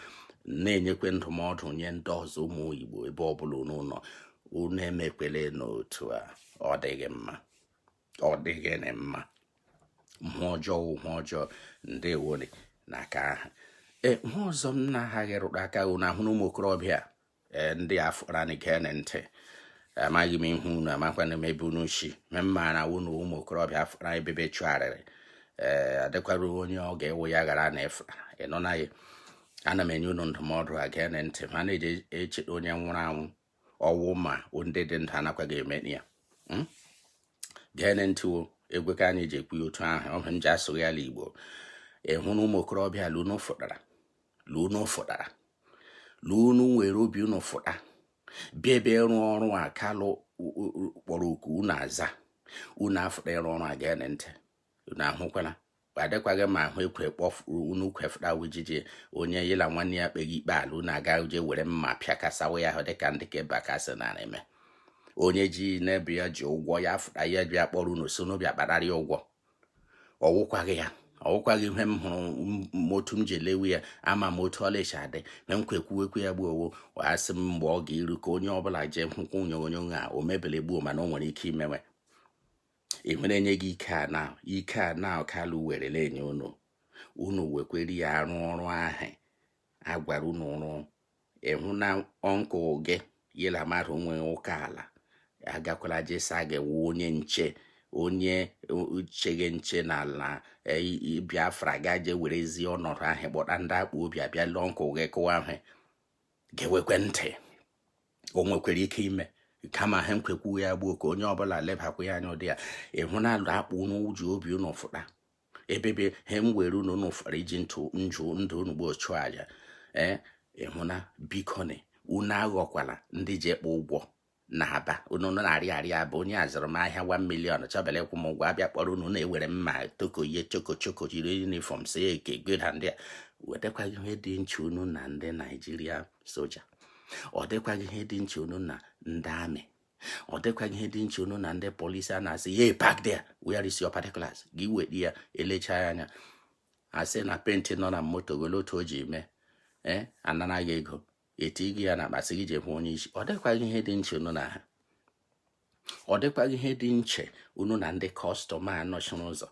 na-enyekwe ndụmọdụ nye ndị ọzọ ụmụ Igbo ebe ọ bụla unu nọ unu emekwele n'otu a ọ dịghị mma ọ dịghị na mma mmụọ ọjọọ mmụọ ọjọọ ndewo nụ n'aka ahụ ee ihe ọzọ m na-aghaghị ịrụ aka ụ na ahụ na ụmụ okorobịa ee ndị afọ ranị geenụ ntị amaghị m ihu unu amakwana m ebe unu si ma m maara wụ na ụmụ okorobịa afụra ebebe chụgharịrị ee eh, adịkwara onye ọ ga-ewe ya ghara na efụra ịnọ na ya ana m enye unu ndụmọdụ a geenụ ntị ma na-eji eche onye nwụrụ anwụ ọ wụ ma ndị dị ndụ anakwaghị eme ya hmm? geenụ ntị egwe ka anyị ji ekwu ya otu ahụ ọ bụ m ji asụrụ ya ala igbo ịhụ na ụmụ okorobịa la unu fụtara la unu fụtara la unu nwere obi unu fụta bịa ebe ịrụ ọrụ a Kalu kpọrọ oku unu aza unu afụta ịrụ ọrụ a geenụ ntị unu ahụkwala adịkwaghị ma ahụ ekwe kpọfuru unu kwefụta wijiji onye ya la nwanne ya kpeghị ikpe ala unu aga je were mma pịakasawa ya ahụ dịka ndị ke Bakassi nara eme onye ji n'ebe ya ji ụgwọ ya fụta ya bịa kpọrọ unu sị unu bịa kpatara ya ụgwọ ọ wụkwaghị ya ọ wụkwaghị ihe m hụrụ otu m ji elewe ya ama m otu ọ la-eji adị na m kwekwuwekwu ya gboo owo asị m mgbe ọ ga-eru ka onye ọbụla jee hụkwa onyonyo a o mebele gboo mana o nwere ike imewe ị nwere enye gị ike a na ike a na kalụ werele enye unu unu wekwere ya arụ ọrụ ahụ a gwara unu rụọ ịhụ na ọnkụ gị ya la mmadụ nwee ụka ala agakwala je sị gị wụ onye nche onye cheghe nche n'ala e, biafra gaje werezi ọnọdụ ahụ kpọta ndị akpụ obi a bịa ala ọnkụ gị kụwa ahụ gewekwe ntị o nwekwara ike ime kama ha nkwekwu ya gbuo ka onye ọbụla lebakwa ya anya ụdị ya ịhụ na alụ akpụ unu ji obi unu fụta ebebe ha were unu unu fụtara iji ntụ njụ ndụ unu gbuo chụọ aja ee ịhụna bikoni unu aghọkwala ndị ji ekpe ụgwọ n'aba unu n'ariaria aba onye a zụrụ m ahịa 1 million chọbele ịkwụ m ụgwọ a bịa kpọrọ unu na-ewere mma tokoye chokochoko jiri yunifọm sie eke geda ndị a ọ dịkwaghị ihe dị nche unu na ndị naijiria soja ọ dịkwaghị ihe dị nche unu na ndị amị ọ dịkwaghị ihe dị nche unu na ndị polisi a na-asị ye park there where is your particulars gị weta ya e lecha ya anya a sị na penti nọ na moto gị olee otu o ji mee ee eh, a nara gị ego e tigi ya n'akpa sị gị je hụ onye isi ọ dịkwaghị ihe dị nche unu na ha ọ dịkwaghị ihe dị nche unu na ndị kọstọm a nọchiri ụzọ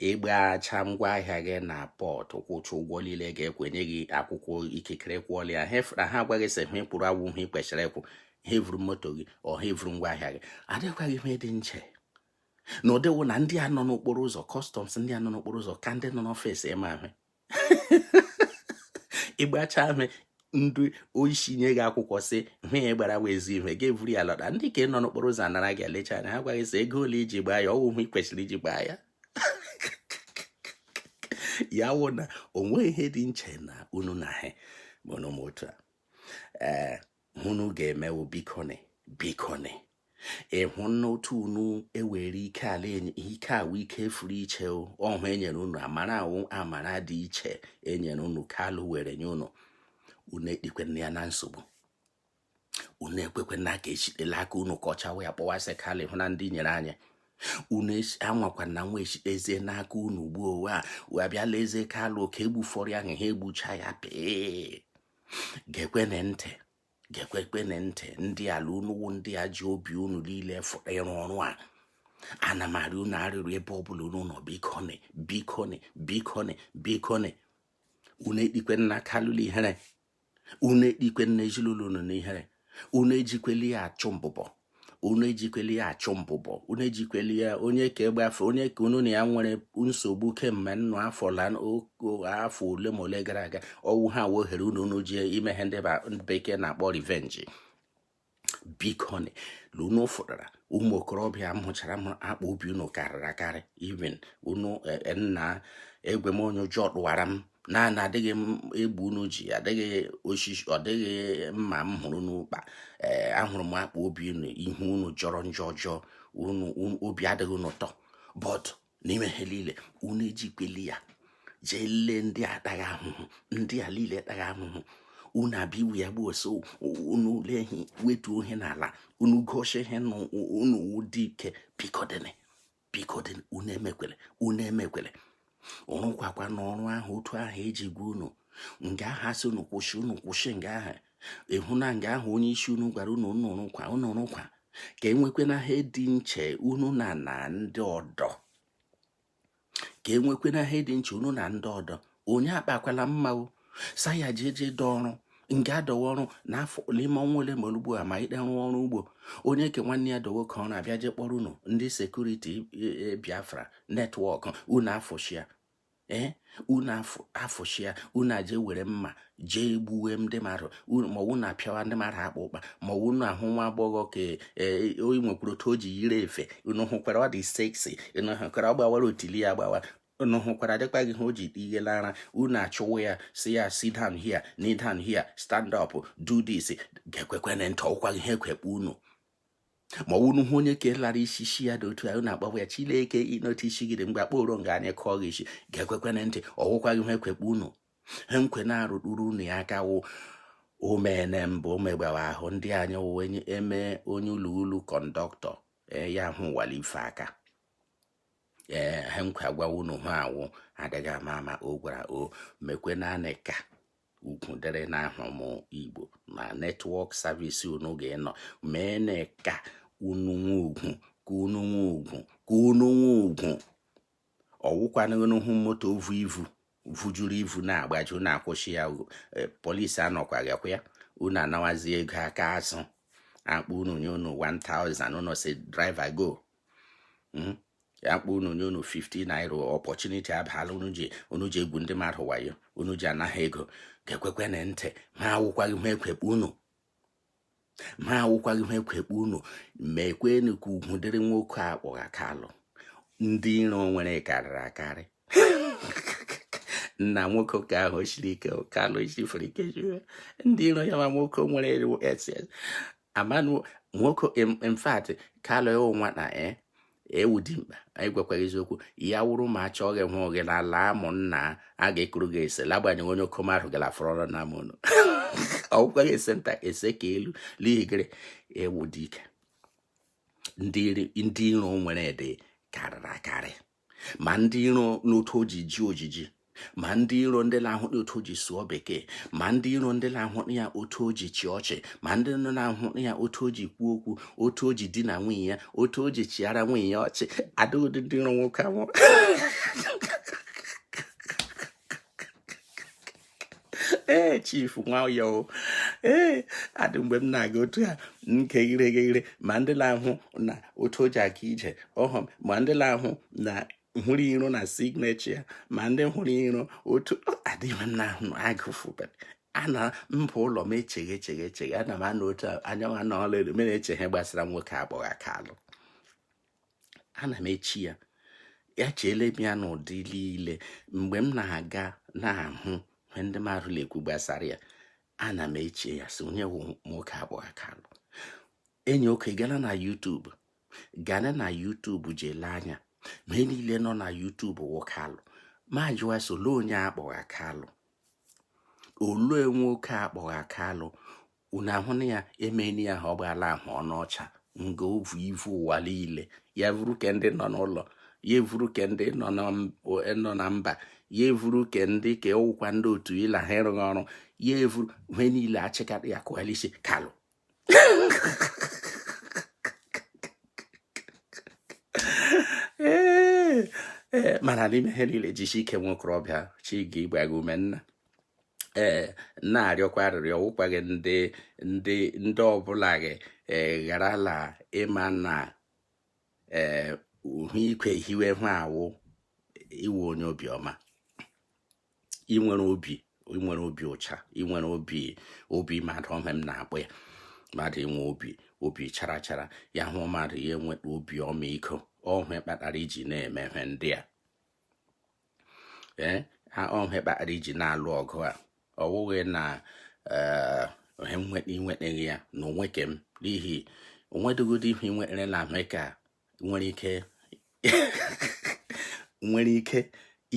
ị gbacha ngwa ahịa gị na pọt kwụcha ụgwọ niile ga-ekwenye gị akwụkwọ ikikere kwụọla ya na ha agwa gị sị ihe ị kwụrụ awụ ihe i kwesịrị ịkwụ ha evuru moto gị ọ ha evuru ngwa ahịa gị ọ dịkwaghị ihe dị nche na ụdịwo na ndị a nọ n'okporo ụzọ kọstọms ndị a nọ n'okporo ụzọ ka ndị nọ n'ọfịs ime ahụ ị gbacha ame ndị isi nye gị akwụkwọ sị ihe a ị gbara wụ ezi ihe gị eburu ya lọta ndị nke a nọ n'okporo ụzọ anara gị elecha anya ha gwa gị sị ego ole i ji gbaa ya awụ ihe ị kwesịrị iji gbaa ya ya wụ na o nwe ihe dị nche na unu na ha ma otu a ee unu ga-eme wo bikoni bikoni ịhụ n'otu unu ewere ike ala ike a wụ ike fụrụ iche ọhụ e nyere unu amara a wụ amara dị iche e nyere unu kalụ were nye unu unu etikwana ya na nsogbu unu ekwekwana ka e shite l'aka unu kọchawa ya kpọwa sị kalụ hụ na ndị nyere anyị unu anwakwana anwa e shitezie n'aka unu gbuo owe a wee bịala eze kalụ ka e gbufọrọ ya ha egbucha ya pee gekwene ntị gekwekwene ntị ndị ala unu wụ ndị a ji obi unu niile fụrụ ịrụ ọrụ a ana m arị unu arịrị ebe ọ bụla unu nọ bikoni bikoni bikoni bikoni unu etikwena kalụ l'ihere unu etikwena ezinụlọ unu n'ihere unu ejikwela ya achụ mbụbọ unu ejikwele ya achụ mbụbọ unu ejikwele ya onye ka egbe afọ onye ka unu na ya nwere nsogbu kemgbe nnụ afọ la afọ ole ma ole gara aga ọwụ ha wụ ohere unu unu ji ime ihe ndị bekee na-akpọ revenge biko unu fụtara ụmụ okorobịa ahụchara m akpa obi unu karịrị akarị even unu e, e, nna egwe m onye ụjọ tụwara m na na adịghị egbe unu ji adịghị osisi ọ dịghị mma m hụrụ unu kpa ee eh, ahụrụ m akpa obi unu ihu unu jọrọ njọ ọjọọ unu obi adịghị unu ụtọ but n'ime ha niile unu ejikweli ya jee lee ndị atagha ahụhụ ndị a niile atagha ahụhụ unu abịa iwu ya gbuo so unu lee ihe wetuo ihe n'ala unu gosi ihe na unu wụ dike biko dịnị biko dị unu emekwele unu emekwele rụkwakwanụ ọrụ ahụ otu ahụ eji gwa unu nga aha si unu kwụsị unu kwụsị nga aha ịhụ na nga ahụ onye isi unu gwara unu unu rụkwa unu rụkwa ka enwekwe na ha dị nche unu na na ndị ọdọ ka enwekwe na ha dị nche unu na ndị ọdọ onye akpakwala mma o sa ya ji eje dọ ọrụ nke adọwa ọrụ n'afọ n'ime ọnwa ole ma ugbu a ma ịde rụọ ọrụ ugbo onye ke nwanne ya dowe ka ọ na-abịa je kpọrọ unu ndị security e, e, biafra network unu afụchia ee eh, unu afụchia unu aje were mma jee gbuwe ndị mmadụ ma unu apịawa ndị mmadụ akpa ụkpa ma unu ahụ nwa agbọghọ ka e, oyi nwekwuru otu o ji yiri efe unu hụkwara ọ dị sexy unu hụkwara ọ gbawara otili ya gbawa unu hụkwara dịkpa gị ha o ji ihe lara unu achụwa ya si ya sit down here kneel down here stand up do this gekwekwene ntị ọkwaghị ha ekwekpe unu ma unu hụ onye ka lara isi shi ya dị otu a unu akpọwa ya chileke ịnọta isi gị dị mgbe akpọro nga anyị kọọ gị isi gekwekwene ntị ọwụkwaghị ha ekwekpe unu ha nkwe na-arụtụrụ unu ya aka wụ omene mbụ omegbawa ahụ ndị anyị wụ eme onye ụlọ ulu conductor eh, ya hụ wali ife aka ee ha nkwa gwawa unu ha awụ adịghị ama ama o gwara o mekwe naanị ka ugwu dịrị n'ahụ m igbo na network service unu ga-enọ mee na ka unu nwe ugwu ka unu nwe ugwu ka unu nwe ugwu ọwụkwana unu hụ moto vu ivu vujuru ivu na-agbaje unu akwụsị ya e, polisi anọkwaghị kwa ya unu anawazi ego aka azụ akpọọ unu nye unu 1000 unu si driver go hmm? ya akpọọ unu nye unu 50 naira opportunity abala unu ji unu ji egwu ndị mmadụ wayo unu ji anagha ego gekwekwene ntị ma awụkwaghị ha ekwekpe unu ma awụkwaghị ha ekwekpe unu mekwenu ka ugwu dịrị nwoke a kpọgha kalụ ndị iro o nwere karịrị akarị nna nwoke ka ahụ siri ike kalụ sifere ike ndị iro ya ma nwoke nwere ss amanu nwoke in fact kalụ ị wụ nwata ị wụ dimkpa anyị gwakwa gị eziokwu ya wụrụ ma achọ gị hụ gị na ala ụmụnna a ga-ekuru gị ese lagbanyeghị onye okom ahụ gara fọrọ ọrụ na amụnụ ọgwụkwaghị ese nta ese ka elu n'ihi gịrị ị wụ dike ndị iro i nwere dị karịrị akarị ma ndị iro n'otu o ji ji ojiji ma ndị iro ndị na-ahụ otu o ji sụọ bekee ma ndị iro ndị na-ahụ ya otu o ji chị ọchị ma ndị nọ na-ahụ ya otu o ji kwuo okwu otu o ji di na nwunye ya otu o ji chịara nwunye ya ọchị adịghị ndị iro nwoke ahụ ee chief nwayọ ee adị mgbe m na-aga otu ya nke ire ghere ma ndị na-ahụ na otu o ji aga ije ọhụm ma ndị na-ahụ na hụrụ iro na signature ya ma ndị hụrụ iro otu adịghị m na-ahụ agụfụbere ana mba ụlọ m echeghe echeghe echeghe ana m anọ otu anyanwụ anọ ọla elu m na-echeghe gbasara nwoke a kpọgha kalụ ana m eche ya ya echeele m ya n'ụdị niile mgbe m na-aga na-ahụ ihe ndị mmadụ na-ekwu gbasara ya ana m eche ya sị onye wụ nwoke a kpọgha kalụ enyi oke gana na YouTube gana na YouTube je lee anya ihe niile nọ na YouTube wụ kalụ m ajụwa sị olee onye a kpọgha kalụ olee nwoke a kpọgha kalụ unu ahụna ya emeghị ya ha ọ gbaala ahụ ọnụ ọcha nga o vu ivu ụwa niile ya vuru ke ndị nọ n'ụlọ ya evuru ke ndị nọ na mba ya evuru ke ndị ka ụkwa ndị otu ịla ha ịrụghị ọrụ ya evuru ihe niile achịkata ya kụgha la isi kalụ ee mana n'ime ihe niile jisi ike nwokorobịa chi ga igba gị ume nna ee na-arịọkwa arịrịọ ọ wụkwa gị ndị ndị ndị ọbụla gị gharala ịma na ee uhu ikwe hiwe hụ awụ iwe onye obiọma i nwere obi i nwere obi ụcha i nwere obi obi mmadụ ọhụ m na-akpọ ya mmadụ inwe obi obi chara chara ya hụ mmadụ ya enweta obi ọmịiko ọhụ kpatara i ji na-eme ihe ndị a ee ọhụ kpatara i ji na-alụ ọgụ a ọ wụghị na eh, ohe i nwetaghị ya na nwoke m n'ihi o nwedịghị ụdị ihe nwere na ahụike a nwere ike nwere ike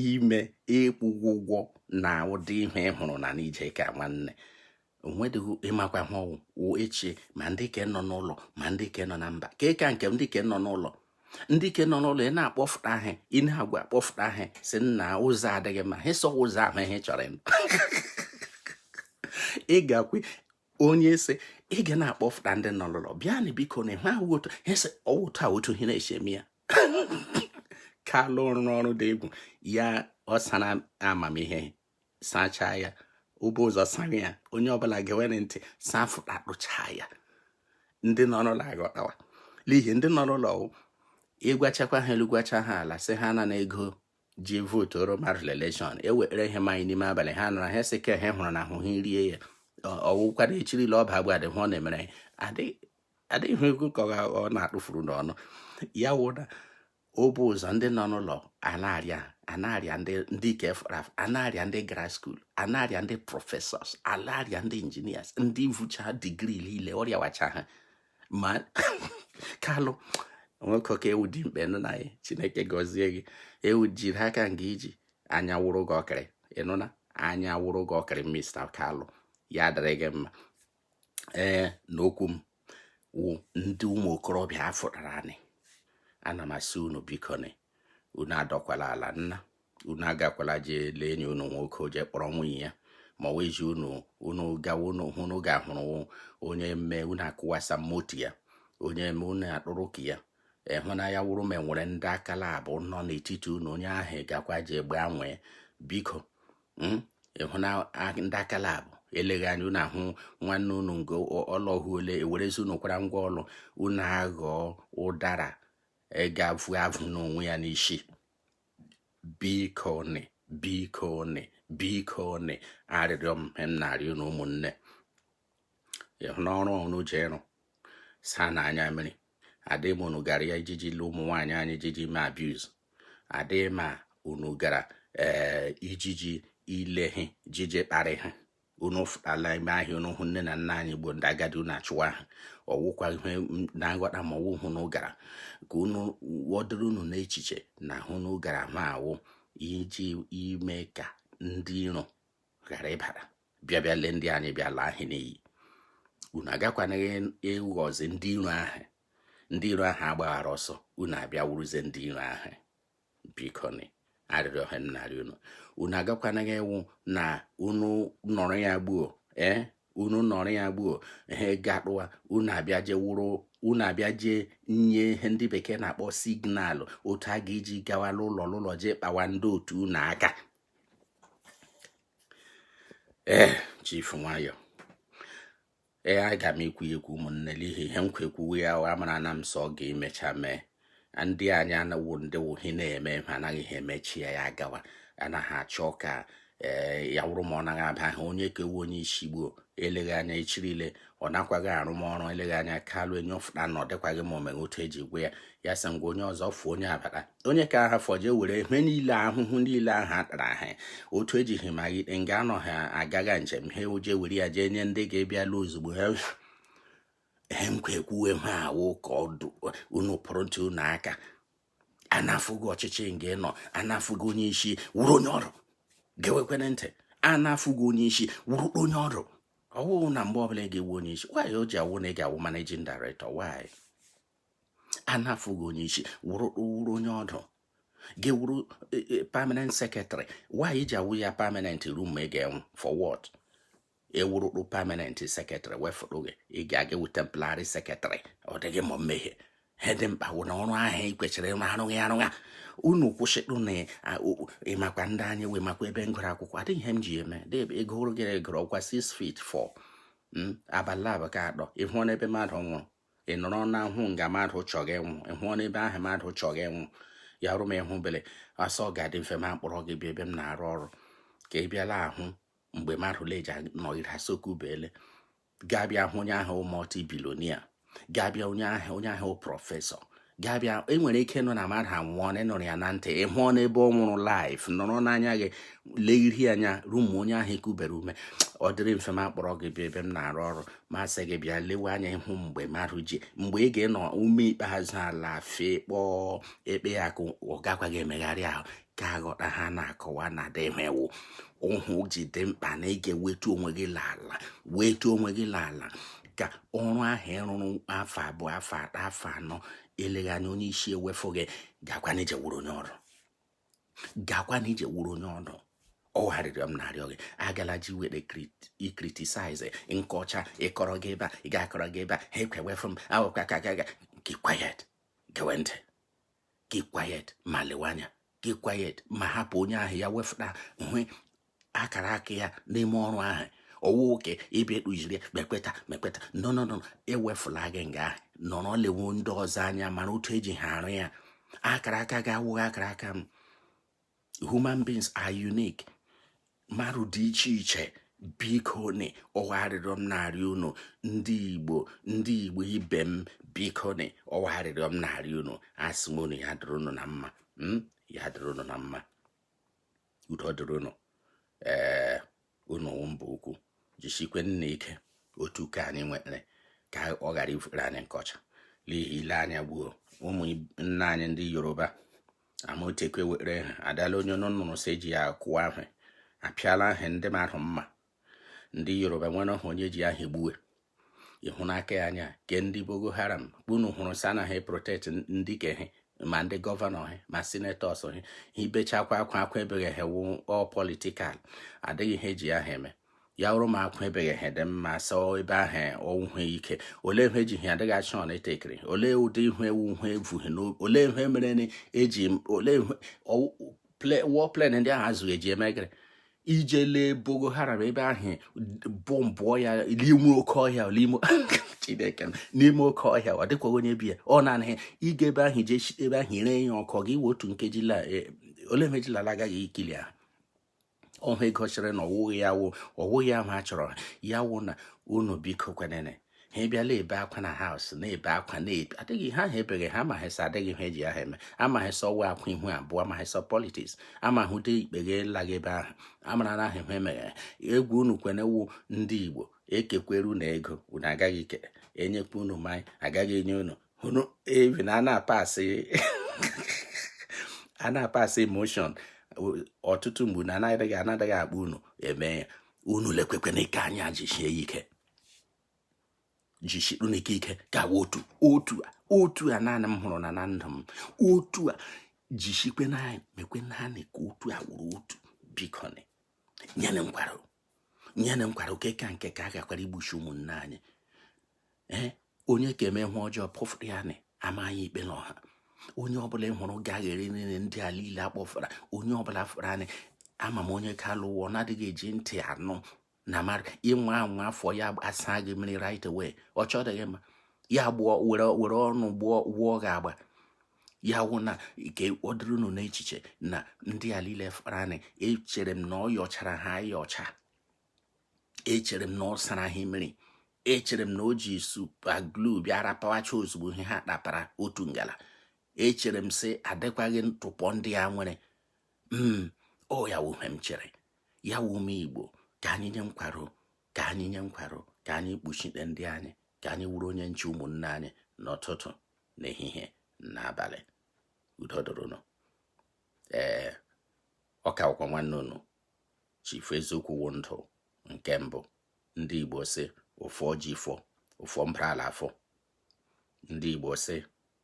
ime ịkwụ gị ụgwọ na ụdị ihe ị hụrụ na n'ije ka nwanne onwedịghị ịmakwa ha ọnwụ wụ echi ma ndị ke nọ n'ụlọ ma ndị ke nọ na mba ka ịka nke ndị ke nọ n'ụlọ ndị ke nọ n'ụlọ ị na-akpọfụta ahụ ị na-agwa akpọfụta ahụ sị nna ụzọ adịghị mma ha iso ụzọ ahụ ihe chọrọ ịnụ ị ga-akwe onye ese ị ga na-akpọfụta ndị nọ n'ụlọ bịa na biko na ịhụ ahụ otu ha ese ọwụtụ a otu ihe na-eche eme ya kalụ rụrụ ọrụ dị egwu ya ọ sara amamihe sachaa ya o bu ụzọ sara ya onye ọbụla ga-ewere ntị saa fụta kpụchaa ya ndị nọ n'ụlọ aghọtawa n'ihi ndị nọ n'ụlọ ị gwachakwa ha elu gwacha ha ala sị ha na ego ji vootu oroma elekshọn ewere ihe manye n'ime abalị ha nara ha sị ka ha hụrụ na ahụ ha rie ya ọwụkwara echirila ọba agwa adịghị ọ na-emere adịghị ego ka ọ na-atụfuru n'ọnụ ya wụda o bu ụzọ ndị nọ n'ụlọ anarịa anarịa ndị ndị kefraf anarịa ndị gara skuul anarịa ndị prọfesọs anarịa ndị injinias ndị vucha digri niile ọrịa wacha ha ma kalụ nwoke ka ị wụ dimkpa ịnụna ya chineke gọzie gị ewu jiri aka nga iji anya wụrụ gị ọkịrị ịnụna anya wụrụ gị ọkịrị mista kalụ ya dịrị gị mma ee na okwu m wụ ndị ụmụ okorobịa a fụtaranị ana m asị unu bikoni unu adọkwala ala nna unu agakwala jee lee enyi unu nwoke jee kpọrọ nwunye ya ma wee ji unu unu gawa unu hụ unu ga-ahụrụ onye mme unu akụwasa moto ya onye mme unu akpụrụ ka ya ịhụnanya wụrụ ma enwere ndị akala abụ nọ n'etiti unu onye ahụ gakwa jee gbanwee biko hmm? ịhụna ndị akala abụ eleghị anya unu ahụ nwanne unu ngo ọlọhụ ole e werezie unu kwara ngwa ọlụ unu aghọọ ụdara ga-avụ avụ n'onwe ya n'isi biko nị biko nị biko nị arịrịọ m na-arịọ unu ụmụnne ịhụna ọrụ unu ji arụ saanụ anya mmiri adịghị mma unu gara ya ijiji lụ ụmụ nwaanyị anyị ijiji mee abuse adịghị mma unu gara ee eh, ijiji ile ha jije kparị ha unu fụtala ime ahịa unu hụ nne na nna anyị gboo ndị agadi unu achụwa ha ọwụkwa ihe na nghọta ma ọwụ ihe unu gara ka ọ dịrị unu n'echiche na ihe unu gara ahụ wụ iji ime ka ndị iro ghara ịbara bịa bịa lee ndị anyị bịa laa ha n'iyi unu agakwanaghị ịghọzi ndị iro ahụ ndị iro ahụ agbaghara ọsọ unu abịa wuruzie ndị iro ahụ bikoni arịrịọ a na-arịọ unu unu agakwanaghị ọwụ na unu nọrọ ya gbuo ee eh, unu nọrọ ya gbuo ha ego akpụwa unu abịa jee wụrụ unu abịa jee nye ihe ndị bekee na-akpọ signalụ otu a ga-eji gawa n'ụlọ n'ụlọ jee kpawa ndị otu unu aka ee eh, chief nwayọ ee eh, aga m ekwu ekwu ụmụnne n'ihi ihe m ga-ekwuwe ya wa mara na m sọ ga-emecha mee ndị anyị anawo ndị wụhi na-eme ha anaghị ha emechi ya ya gawa anaghị achọ ka ee eh, ya wụrụ ma ọ naghị aba ha onye kewu onye isi gboo eleghị anya echirile ọ nakwaghị arụ ọrụ eleghị anya kalụ enye ọ fụta na ọ dịkwaghị ma omeghe otu e ji gwe ya ya sị ngwa onye ọzọ fụọ onye a bata onye ka ha fọje were ihe niile ahụhụ niile ahụ a tara ha otu ejighị magide nga anọ ha agaga njem ha uje were ya jee nye ndị ga-ebịala ozugbo ha ihe m ga-ekwuwe ha awụ ka ọ dụ unu pụrụ ntị unu aka anafughị ọchịchị nga ị nọ anafughị onye isi wụrụ onye ọdụ gewekwene ntị anafughị onye isi wụrụ onye ọdụ ọ wụ na mgbe ọbụla ị ga-ewu onye isi why o ji awụ na ị ga-awụ managing director why a na-afụghị onye isi wụrụ wụrụ onye ọdụ ga-awụrụ e, e, permanent secretary why ji awụ ya permanent ruo mgbe ị ga-anwụ for what ewurukpu permanent secretary wefụrụ gị ị ga-aga ewu temporary secretary ọ dịghị ma mmehie ihe dị mkpa wụ na ọrụ ahụ ị kwesịrị ịrụ arụghị arụgha unu kwụsịtụ na ịmakwa ndị anyị wee makwa ebe m gụrụ akwụkwọ adịghị ihe m ji eme ego hụrụ gịrị gụrụ ọ kwa 6 feet fọ abalị abụọ ka atọ ị hụna ebe mmadụ nwụrụ ị nọrọ na hụ nga mmadụ chọga ịnwụ ị hụna ebe ahụ mmadụ chọga ịnwụ ya rụ m ịhụ bele asọ ọ ga-adị mfe ma m kpọrọ gị bịa ebe m na-arụ ọrụ ka ị bịala hụ mgbe mmadụ leja nọgide asoku bele ga-abịa hụ onye ahụ multi billionaire ga-abịa onye ahụ onye ahụ professor ga-abịa i nwere ike nụ na mmadụ anwụọ na ị nụrụ ya na ntị ị hụna ebe ọ nwụrụ live nọrọ n'anya gị legiri anya ruo mgbe onye ahụ kubiri ume ọ dịrị mfe ma m kpọrọ gị bịa ebe m na-arụ ọrụ ma sị gị bịa lewe anya ịhụ mgbe mmadụ ji mgbe ị ga-enọ ume ikpeazụ ala fee kpọọ ekpe ya ka ọ gakwaghị emegharị ahụ ka aghọta ihe a na-akọwa na demewu ihe o ji dị mkpa na ị ga-ewetu onwe gị l'ala wetu onwe gị l'ala ka ọrụ ahụ ị rụrụ afọ abụọ afọ atọ afọ anọ eleghị anya onye isi ewefu gị gakwa na ije wụrụ onye ọdụ gakwa na ije wụrụ onye ọdụ ọ wụ arịrịọ m na-arịọ gị agala je were criticize nkọcha ịkọrọ gị ebe a ị ga-akọrọ gị ebe a ha ekwewefu m awụkwa ka gaga keep quiet gewe ntị keep quiet ma lewe anya keep quiet ma hapụ onye ahụ ya wefụta hụ akara aka ya n'ime ọrụ ahụ ọ wụ oke ị bịa ekpujiri mekpeta mekpeta nọnọnọ e wefula gị nga ahụ nọrọ lewe ndị ọzọ anya mara otu e ji ha arụ ya akara aka gị awụghị akara aka m human beings are unique mmadụ dị iche iche biko ni ọ wụ arịrịọ m na-arịọ unu ndị igbo ndị igbo ibe m biko ni ọ wụ arịrịọ m na-arịọ unu asị m unu ya dịrị unu na mma hmm? ya dịrị unu na mma udo dịrị unu ee eh, unu mba ukwu jisikweni ike otu ka anyị nwere ka ọ ghara ịwụrụ anyị nkọcha n'ihi ile anya gbuo ụmụ nna anyị ndị yoruba Amotekun were ha adala onye unu nụrụ sị eji ya kụwa ahụ apịala ahụ ndị mmadụ mma ndị yoruba nwere ọhụ onye ji ahụ gbuwe ịhụ n'aka ya anya ke ndị Boko Haram unu hụrụ sị anaghị protect ndị ke ha ma ndị gọvanọ ha ma senators ha ebechakwa akwa akwa ebega ha wụ ọ political adịghị ihe eji ya ha eme ya wụrụ ma akwa ebega ha dị mma sọ ebe ahụ ọwụhụ ike olee ihe eji ha adịghị achọ na etekiri olee ụdị ihu ewu ihu evughị olee ihe mere eji olee war plane ndị ahụ azụghị eji eme gịrị ije lee Boko Haram ebe ahụ bọmbụọ ya n'ime oke ọhịa n'ime chineke n'ime oke ọhịa ọ dịkwaghị onye bi ya ọ na-anaghị ịga ebe ahụ jee ebe ahụ ire ya ọkụ gị wee otu nkeji e, ole mejilala agaghị ikili ahụ ọhụ egosiri na ọwụghị ya wụ ọwụghị ya ma a chọrọ ya wụ na unu biko kwenene ha abịala ebe akwa na house na-ebe akwa na-ebe adịghị ihe ahụ ebega ha amaghị sị adịghị ihe eji ahụ eme amaghị sị ọ wụ akwa ihu abụọ amaghị sị politics amaghị ụdị ikpeghe laghị ebe ahụ amara na ahụ ihe emeghe egwu unu kwenewu ndị igbo ekekwere unu ego unu agaghị ike enyekwa unu mmanya agaghị enye unu unu evi na ana apasị a na-apasị motion ọtụtụ mgbe na anaghị anaghị akpa unu eme unu lekwekwe nke a anya jisie ike jisiri unu ike ike gawa otu otu a otu a naanị m hụrụ na na ndụ m otu a jisikwe naanị mekwe naanị ka otu a wụrụ otu biko nyere nkwara nyere nkwara oke ka nke ka a ghakwara igbusi ụmụnne anyị ee eh, onye ka eme ihe ọjọọ pụfụrụ ya na amaghị ikpe n'ọha onye ọbụla ị hụrụ gaghịrị nile ndị a niile akpọfara onye ọbụla fụrụ anyị ama m onye ka alụwọ na-adịghị eji ntị anụ na mara ịnwa anwa afọ ya asa gị mmiri right away ọ chọdịghị mma ya gbụọ were were ọnụ gbụọ wụọ gị agba ya wụ na nke ọ dịrị unu n'echiche na ndị a niile farani echere m na ọ yọchara ha ayọcha echere m na ọ sara ha mmiri echere m na o ji super glue bịa rapawacha ozugbo ihe ha kpatara otu ngala echere m sị adịkwaghị ntụpọ ndị a nwere mm, ọ ya wụ ihe m chere ya wụ ụmụ igbo ka anyị nye nkwaro ka anyị nye nkwaro ka anyị kpuchite ndị anyị ka anyị wụrụ onye nche ụmụnne anyị n'ụtụtụ n'ehihie n'abalị udo dụrụ unu ee ọ ka wụkwa nwanne unu chifu eziokwu wụ ndụ nke mbụ ndị igbo sị ụfọ ji fọ ụfọ mbara ala afọ ndị Igbo sị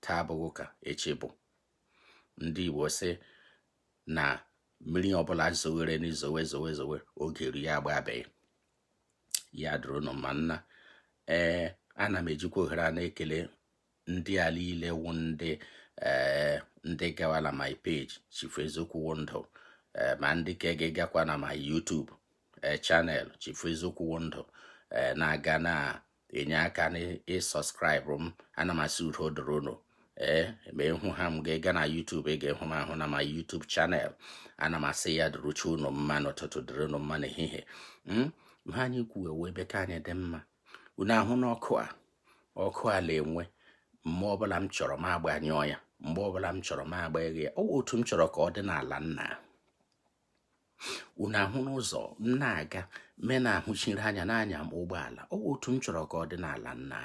taa abụghị ka echi bụ ndị Igbo sị na mmiri ọbụla zowere n'izowe zowe zowe oge eruo ya agbabie ya dụrụ unu mma nna ee ana m ejikwa ohere a na-ekele ndị a niile wụ ndị ee ndị gawa na my page Chief Eziokwu wụ ndụ ee ma ndị ka ga-egakwa na my YouTube ee channel Chief Eziokwu wụ ndụ ee na-aga na enye aka n'ị subscribe m ana m asị udo dịrị unu ee ma ị hụ aha m ga-ega na YouTube ị ga-ehụ m ahụ na my YouTube channel ana m asị ya dịrụcha unu mma n'ụtụtụ dịrị unu mma n'ehihie hmm? ma anyị kwuwe wee be ka anyị dị mma unu ahụna ọkụ a ọkụ a na-enwu mgbe ọbụla m chọrọ m agbanyụọ ya mgbe ọbụla m chọrọ m agbaghe ya ọ wụ otu m chọrọ ka ọ dị n'ala nna unu ahụna ụzọ m na-aga me na-ahụchiri anya na-anya ụgbọala ọ wụ otu m chọrọ ka ọ dị n'ala nna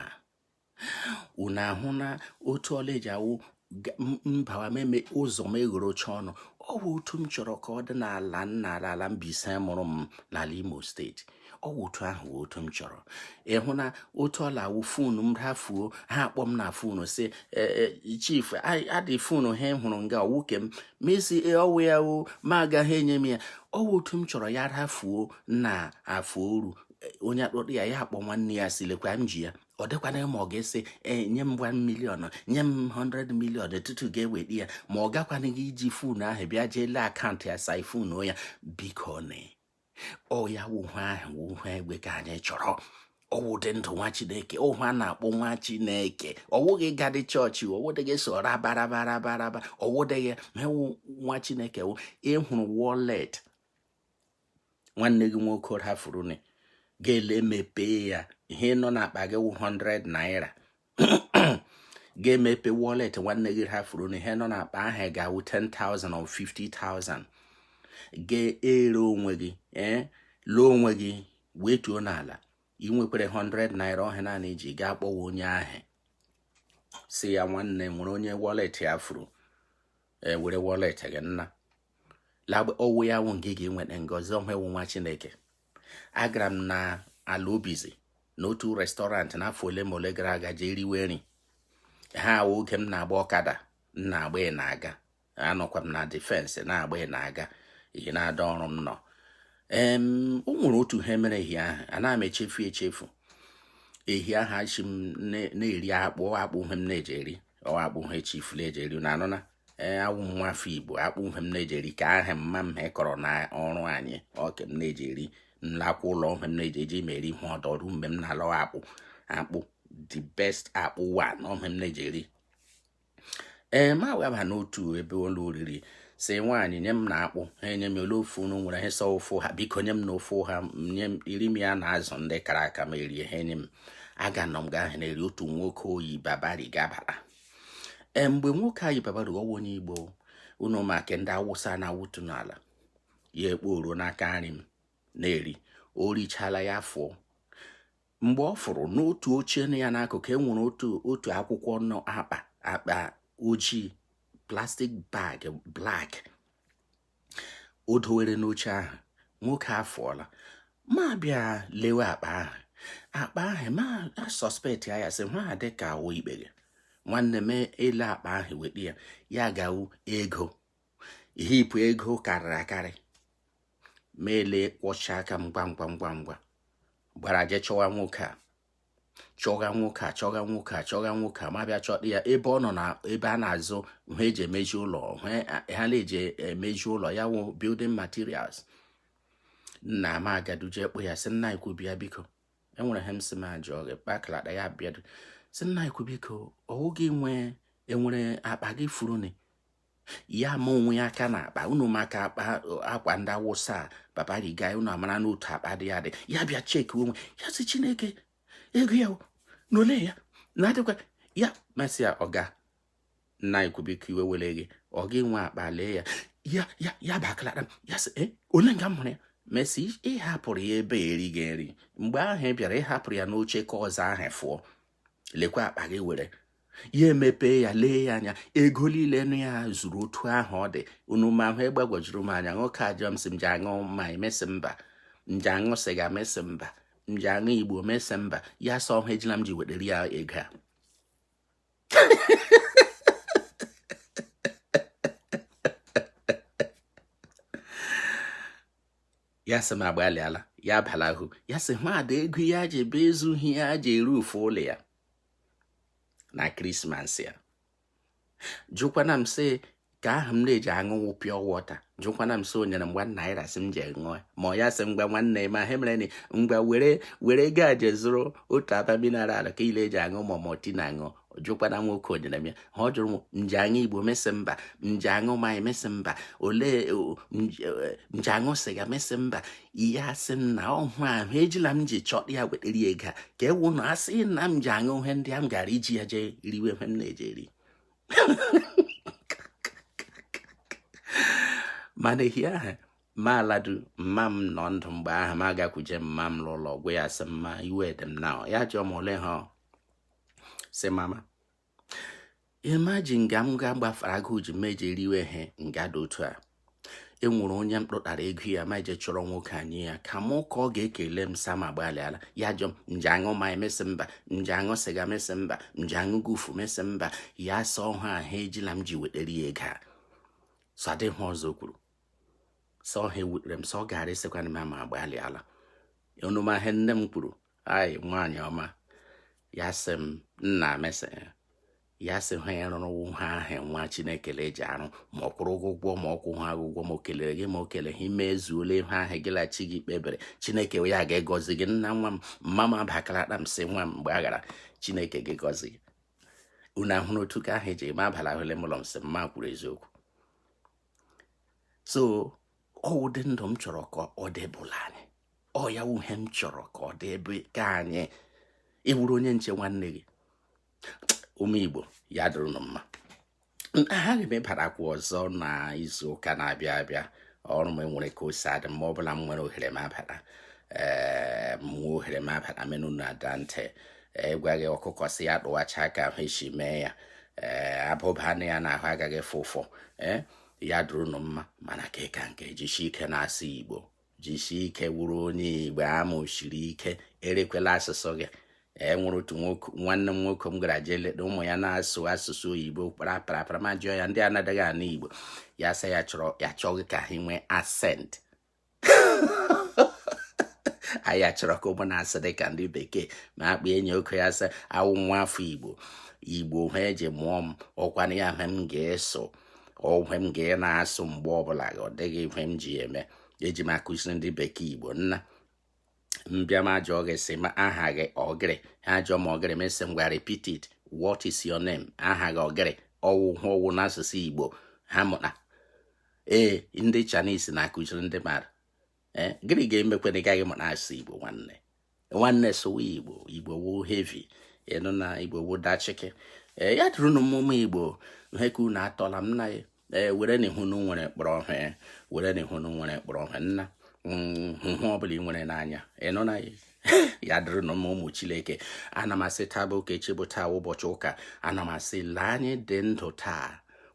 unu ahụna otu ọ la-eji awụ m bawa m eme ụzọ m eghorocha ọnụ ọ wụ otu m chọrọ ka ọ dị n'ala nna ala Mbaise mụrụ m n'ala Imo steeti ọ wụ otu ahụ otu m chọrọ ị hụna otu ọ la-awụ fonu m rafuo ha akpọ m na fonu sị e, e, chief a dị fonu ha hụrụ nga ọ wụ nke m m esi e, ọ wụ ya o ma agaghị enye m ya ọ wụ otu m chọrọ ya rafuo n'Afọ Oru onye akpọta ya ya akpọ nwanne ya sị lekwa m ji ya ọ dịkwana ma ọ ga-esi e, nye m 1 million nye m 100 million tutu ga-eweta ya ma ọ gakwana gị iji fon ahụ bịa jee lee account ya siphon ya biko na ọ ya wụ ihe ahụ wụ ihe egbe ka anyị chọrọ ọ wụ ụdị ndụ nwa chineke ihe a na-akpọ nwa chineke ọ wụghị ịga dị church ọ wụdịghị so rabarabarabaraba ọ wụdịghị m wụ nwa chineke wụ ị hụrụ wallet nwanne gị nwoke hafuruni ga-ele mepee ya ihe nọ n'akpa gị wụ 100 naira ga-emepe wallet nwanne gị ha furu na ihe nọ n'akpa ahụ ga-awụ 10,000 or 50,000 ga-ere onwe gị ee eh, lee onwe gị wetuo n'ala ị nwekwara 100 naira ahụ naanị i ji gaa kpọwa onye ahụ sị ya nwanne nwere onye wallet ya furu were wallet gị nna ọ wụ ya wụ nke ga-enweta ngozi ọ wụ nwa chineke agara m na ala obizi n'otu restaurant n'afọ ole ma ole gara aga jee riwe nri ha wụ oge m na-agba ọkada m na-agba ị na-aga anọkwa m na defense na-agba ị na-aga ihi na-ada ọrụ m nọ ee o nwere otu ihe mere ehi ahụ a na m echefu echefu ehi ahụ a sị m na-eri akpụ akpụ wụ ihe m na-eji eri ọ wụ akpụ wụ ihe chiefly eji eri na anụna ee awụ m nwafọ igbo akpụ wụ ihe m na-eji eri ka ahụ mma m kọrọ na ọrụ anyị ọke m na-eji eri m lakwa ụlọ wụ ihe m na-eji eji m eri ihe ọdọ ruo mgbe m na-alọ akpụ akpụ the best akpụ wụnụ ihe m na-eji eri ee ma weba n'otu ebe ụlọ oriri sị nwaanyị nye m nụ akpụ ha enye m ole ofe unu nwere ha sị ofe ọha biko nye m nụ ofe ọha nye m iri m ya na azụ ndị kara aka ma erie ha enye m aga nọ m nga ahụ na-eri otu nwoke yi babariga abara mgbe nwoke a yi babariga ọ wụ onye igbo unu ma ka ndị awụsa na-awụtu n'ala ya ekpo oruo n'aka nri m na-eri o richala ya afụọ mgbe ọ fụrụ n'otu oche nọ ya n'akụkụ e nwere otu otu akwụkwọ nọ akpa akpa ojii plastic bag black o dowere n'oche ahụ nwoke afụọla ma bịa lewe akpa ahụ akpa ahụ ma suspect ya ya sị ihe a dị ka ọ wụ ikpeghe nwanne m ele akpa ahụ mepe ya ya ga wụ ego heap ego karịrị akarị ma ele kwọcha aka m ngwa ngwa ngwa ngwa gbara jee chọwa nwoke a chọga nwoke a chọga nwoke a chọga nwoke a ma bịa chọta ya ebe ọ nọ na ebe a na-azụ ihe eji emezi ụlọ ihe a na-eji emezi ụlọ ya wụ building materials nna m agaduje kpọọ ya sị nna ukwu bịa biko enwere ihe m sị m ajụ gị kpakalata ya bịa sị nna ukwu biko ọ wụ gị nwee enwere akpa gị furu ni ya ma onwe ya aka na akpa unu ma akpa akwa ndị awụsa babariga unu amara n'otu akpa dị ya dị ya bịa check onwe ya sị chineke ego ya niile ya na adịkwa ya m asị ya ọga nna ukwu biko iwe ewele gị ọ gị nwe akpa lee ya ya ya ya baklara m ya sị eh, ole nga m hụrụ ya m sị ị hapụrụ ya ebe i riga nri mgbe ahụ ị bịara ị hapụrụ ya n'oche ka ọzọ ahụ fụọ lekwa akpa gị were ya emepee ya lee ya anya ego niile nọ ya zuru otu ahụ ọ dị unu ma ihe gbagwojuru m anya nwoke ajụọ m sị m ji aṅụ mmanya m sị mba m ji aṅụ sịga m sị mba m ji aṅụ igbo m sị mba ya sị ọhọ ejila m ji wetere ya ego a ya sị m agbalịala ya abalahu ya sị mmadụ ego ya ji ebe ezughị ya ji eru ufe ụlọ ya na krismas ya jụkwana m sị ka ahụ m na-eji aṅụnwụ pure water jụkwana m sị o nyere m one naira sị m ji ṅụọ ma ya sị ngwa nwanne ma he mere ni ngwa were ego a je zụrụ otu aba mineral ka ị le eji aṅụ ma ọ maltina ṅụọ ọ jụkwana nwoke o nyere m ya ha ọ jụrụ m m ji aṅụ igbo m asị mba m ji aṅụ mmanya m asị mba olee m ji aṅụ sịga m asị mba ya sị m na ọ ihe ahụ ejila m ji chọta ya wetara ya ego a ka ọ wụ na a sị na m ji aṅụ ihe ndị a m gara iji ya jee riwe ihe m na-eji eri mana ehi ahụ m aladuo mma m nọ ndụ mgbe ahụ m agakwuje mma m n'ụlọ gwa ya sị mma iwe dị m na ya jụọ m ole ha sị mama imagine nga m ga gbafara agụụ ji m eje riwe he nga dị otu a e nwere onye m kpụtara ego ya m eje chọrọ nwoke a nye ya kama ka ọ ga-ekele m sị m agbalịala ya jụọ m m ji aṅụ mmanya m asị mba m ji aṅụ sịga m asị mba m ji aṅụ gufu m asị mba ya sị ọ ihe ahụ ejila m ji wetara ya ego a so ọ dịghị ọzọ o kwuru so ihe a wutere m so ọ gara ịsịkwana m m agbalịala unu ma he nne m kwuru ai nwaanyị ọma ya sị m nna m asị ya sị ihe a ị rụrụ wụ ihe ahụ nwa chineke eji arụ ma ọ kwụrụ ụgwọ ma ọ kwụha ụgwọ ma o kelere gị ma o keleha i mezuola ihe ahụ gị la chi gị kpebere chineke ya ga-egọzi gị nna nwa m mma m abakara akpa m sị nwa m gbaghara chineke ga-egọzi gị unu ahụrụ otu ka ahụ eji eme abala ahụ le m ụlọ m sị mma kwuru eziokwu so ọ ụdị ndụ m chọrọ ka ọ dịbụla anyị ọ ya wụ he m chọrọ ka ọ dị ebe ka anyị ị wụrụ onye nche nwanne gị ụmụ igbo ya dịrị nụ mma agaghị m ịbarakwa ọzọ na izu ụka na-abịa abịa ọrụ m e nwere ka o si adị mgbe ọ bụla m nwere ohere m abara ee m nwee ohere m abara menụ na ada ntị ịgwaghị ọkụkọ si ya tụwacha aka ahụ esi mee ya ee abụba anụ ya na ahụ agaghị fụ ụfụ ee ya dịrị nụ mma mana nke ka nke jisie ike na-asụ igbo jisie ike wụrụ onye igbo ama o siri ike erekwela asụsụ gị e nwere otu nwanne m nwoke m gara jee leta ụmụ ya na-asụ asụsụ oyibo kparaparapara m ajụọ ya ndị a adịghị anụ igbo ya sị ya chọrọ ya chọghị ka ha nwee accent anyị ya chọrọ ka ụmụ na-asụ dị ka ndị bekee m akpọ enyi oke ya sị awụ m nwa afọ igbo igbo ha eji mụọ m ọkwana ya hwe m ga-asụ ọ hwe m ga na-asụ mgbe ọbụla ọ dịghị hwe m ji eme eji m akụziri ndị bekee igbo nna m bịa m ajụọ gị sị ma aha gị ọ gịrị ha ajụọ m ọ gịrị m sị ngwa repeat it what is your name aha gị ọ gịrị ọ wụ ha ọ wụ n'asụsụ Igbo ha mụta ee ndị Chinese na-akụziri ndị mmadụ ee gịnị ga-emekwa na ị gaghị mụta asụsụ Igbo nwanne nwanne sụwa Igbo Igbo wụ heavy ị nụna Igbo wụ dachịkị ee ya dịrị unu mma ụmụ Igbo ha ka unu atọla m na ya ee werenụ ihe unu nwere kpọrọ ihe werenụ ihe unu nwere kpọrọ ihe nna mm, hụ ihe ọbụla i nwere n'anya ị nụna ya dịrị unu mma ụmụ Chineke ana m asị taa bụ ụka echi bụ taa wụ ụbọchị ụka ana m asị lee anyị dị ndụ taa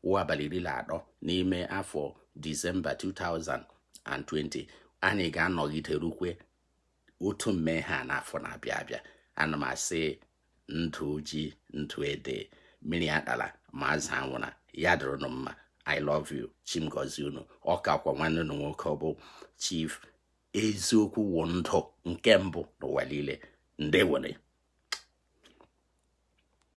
wụ abalị iri na atọ n'ime afọ Disemba 2020 anyị ga-anọgide rukwe otu mgbe a n'afọ na-abịa abịa ana m asị ndụ ji ndụ ede mmiri atala ma azụ anwụra ya dịrị unu mma i love you Chi m gọzie unu ọ kakwa nwanne unu nwoke ọ bụ chief eziokwu wụ ndụ nke mbụ n'ụwa niile ndewonụ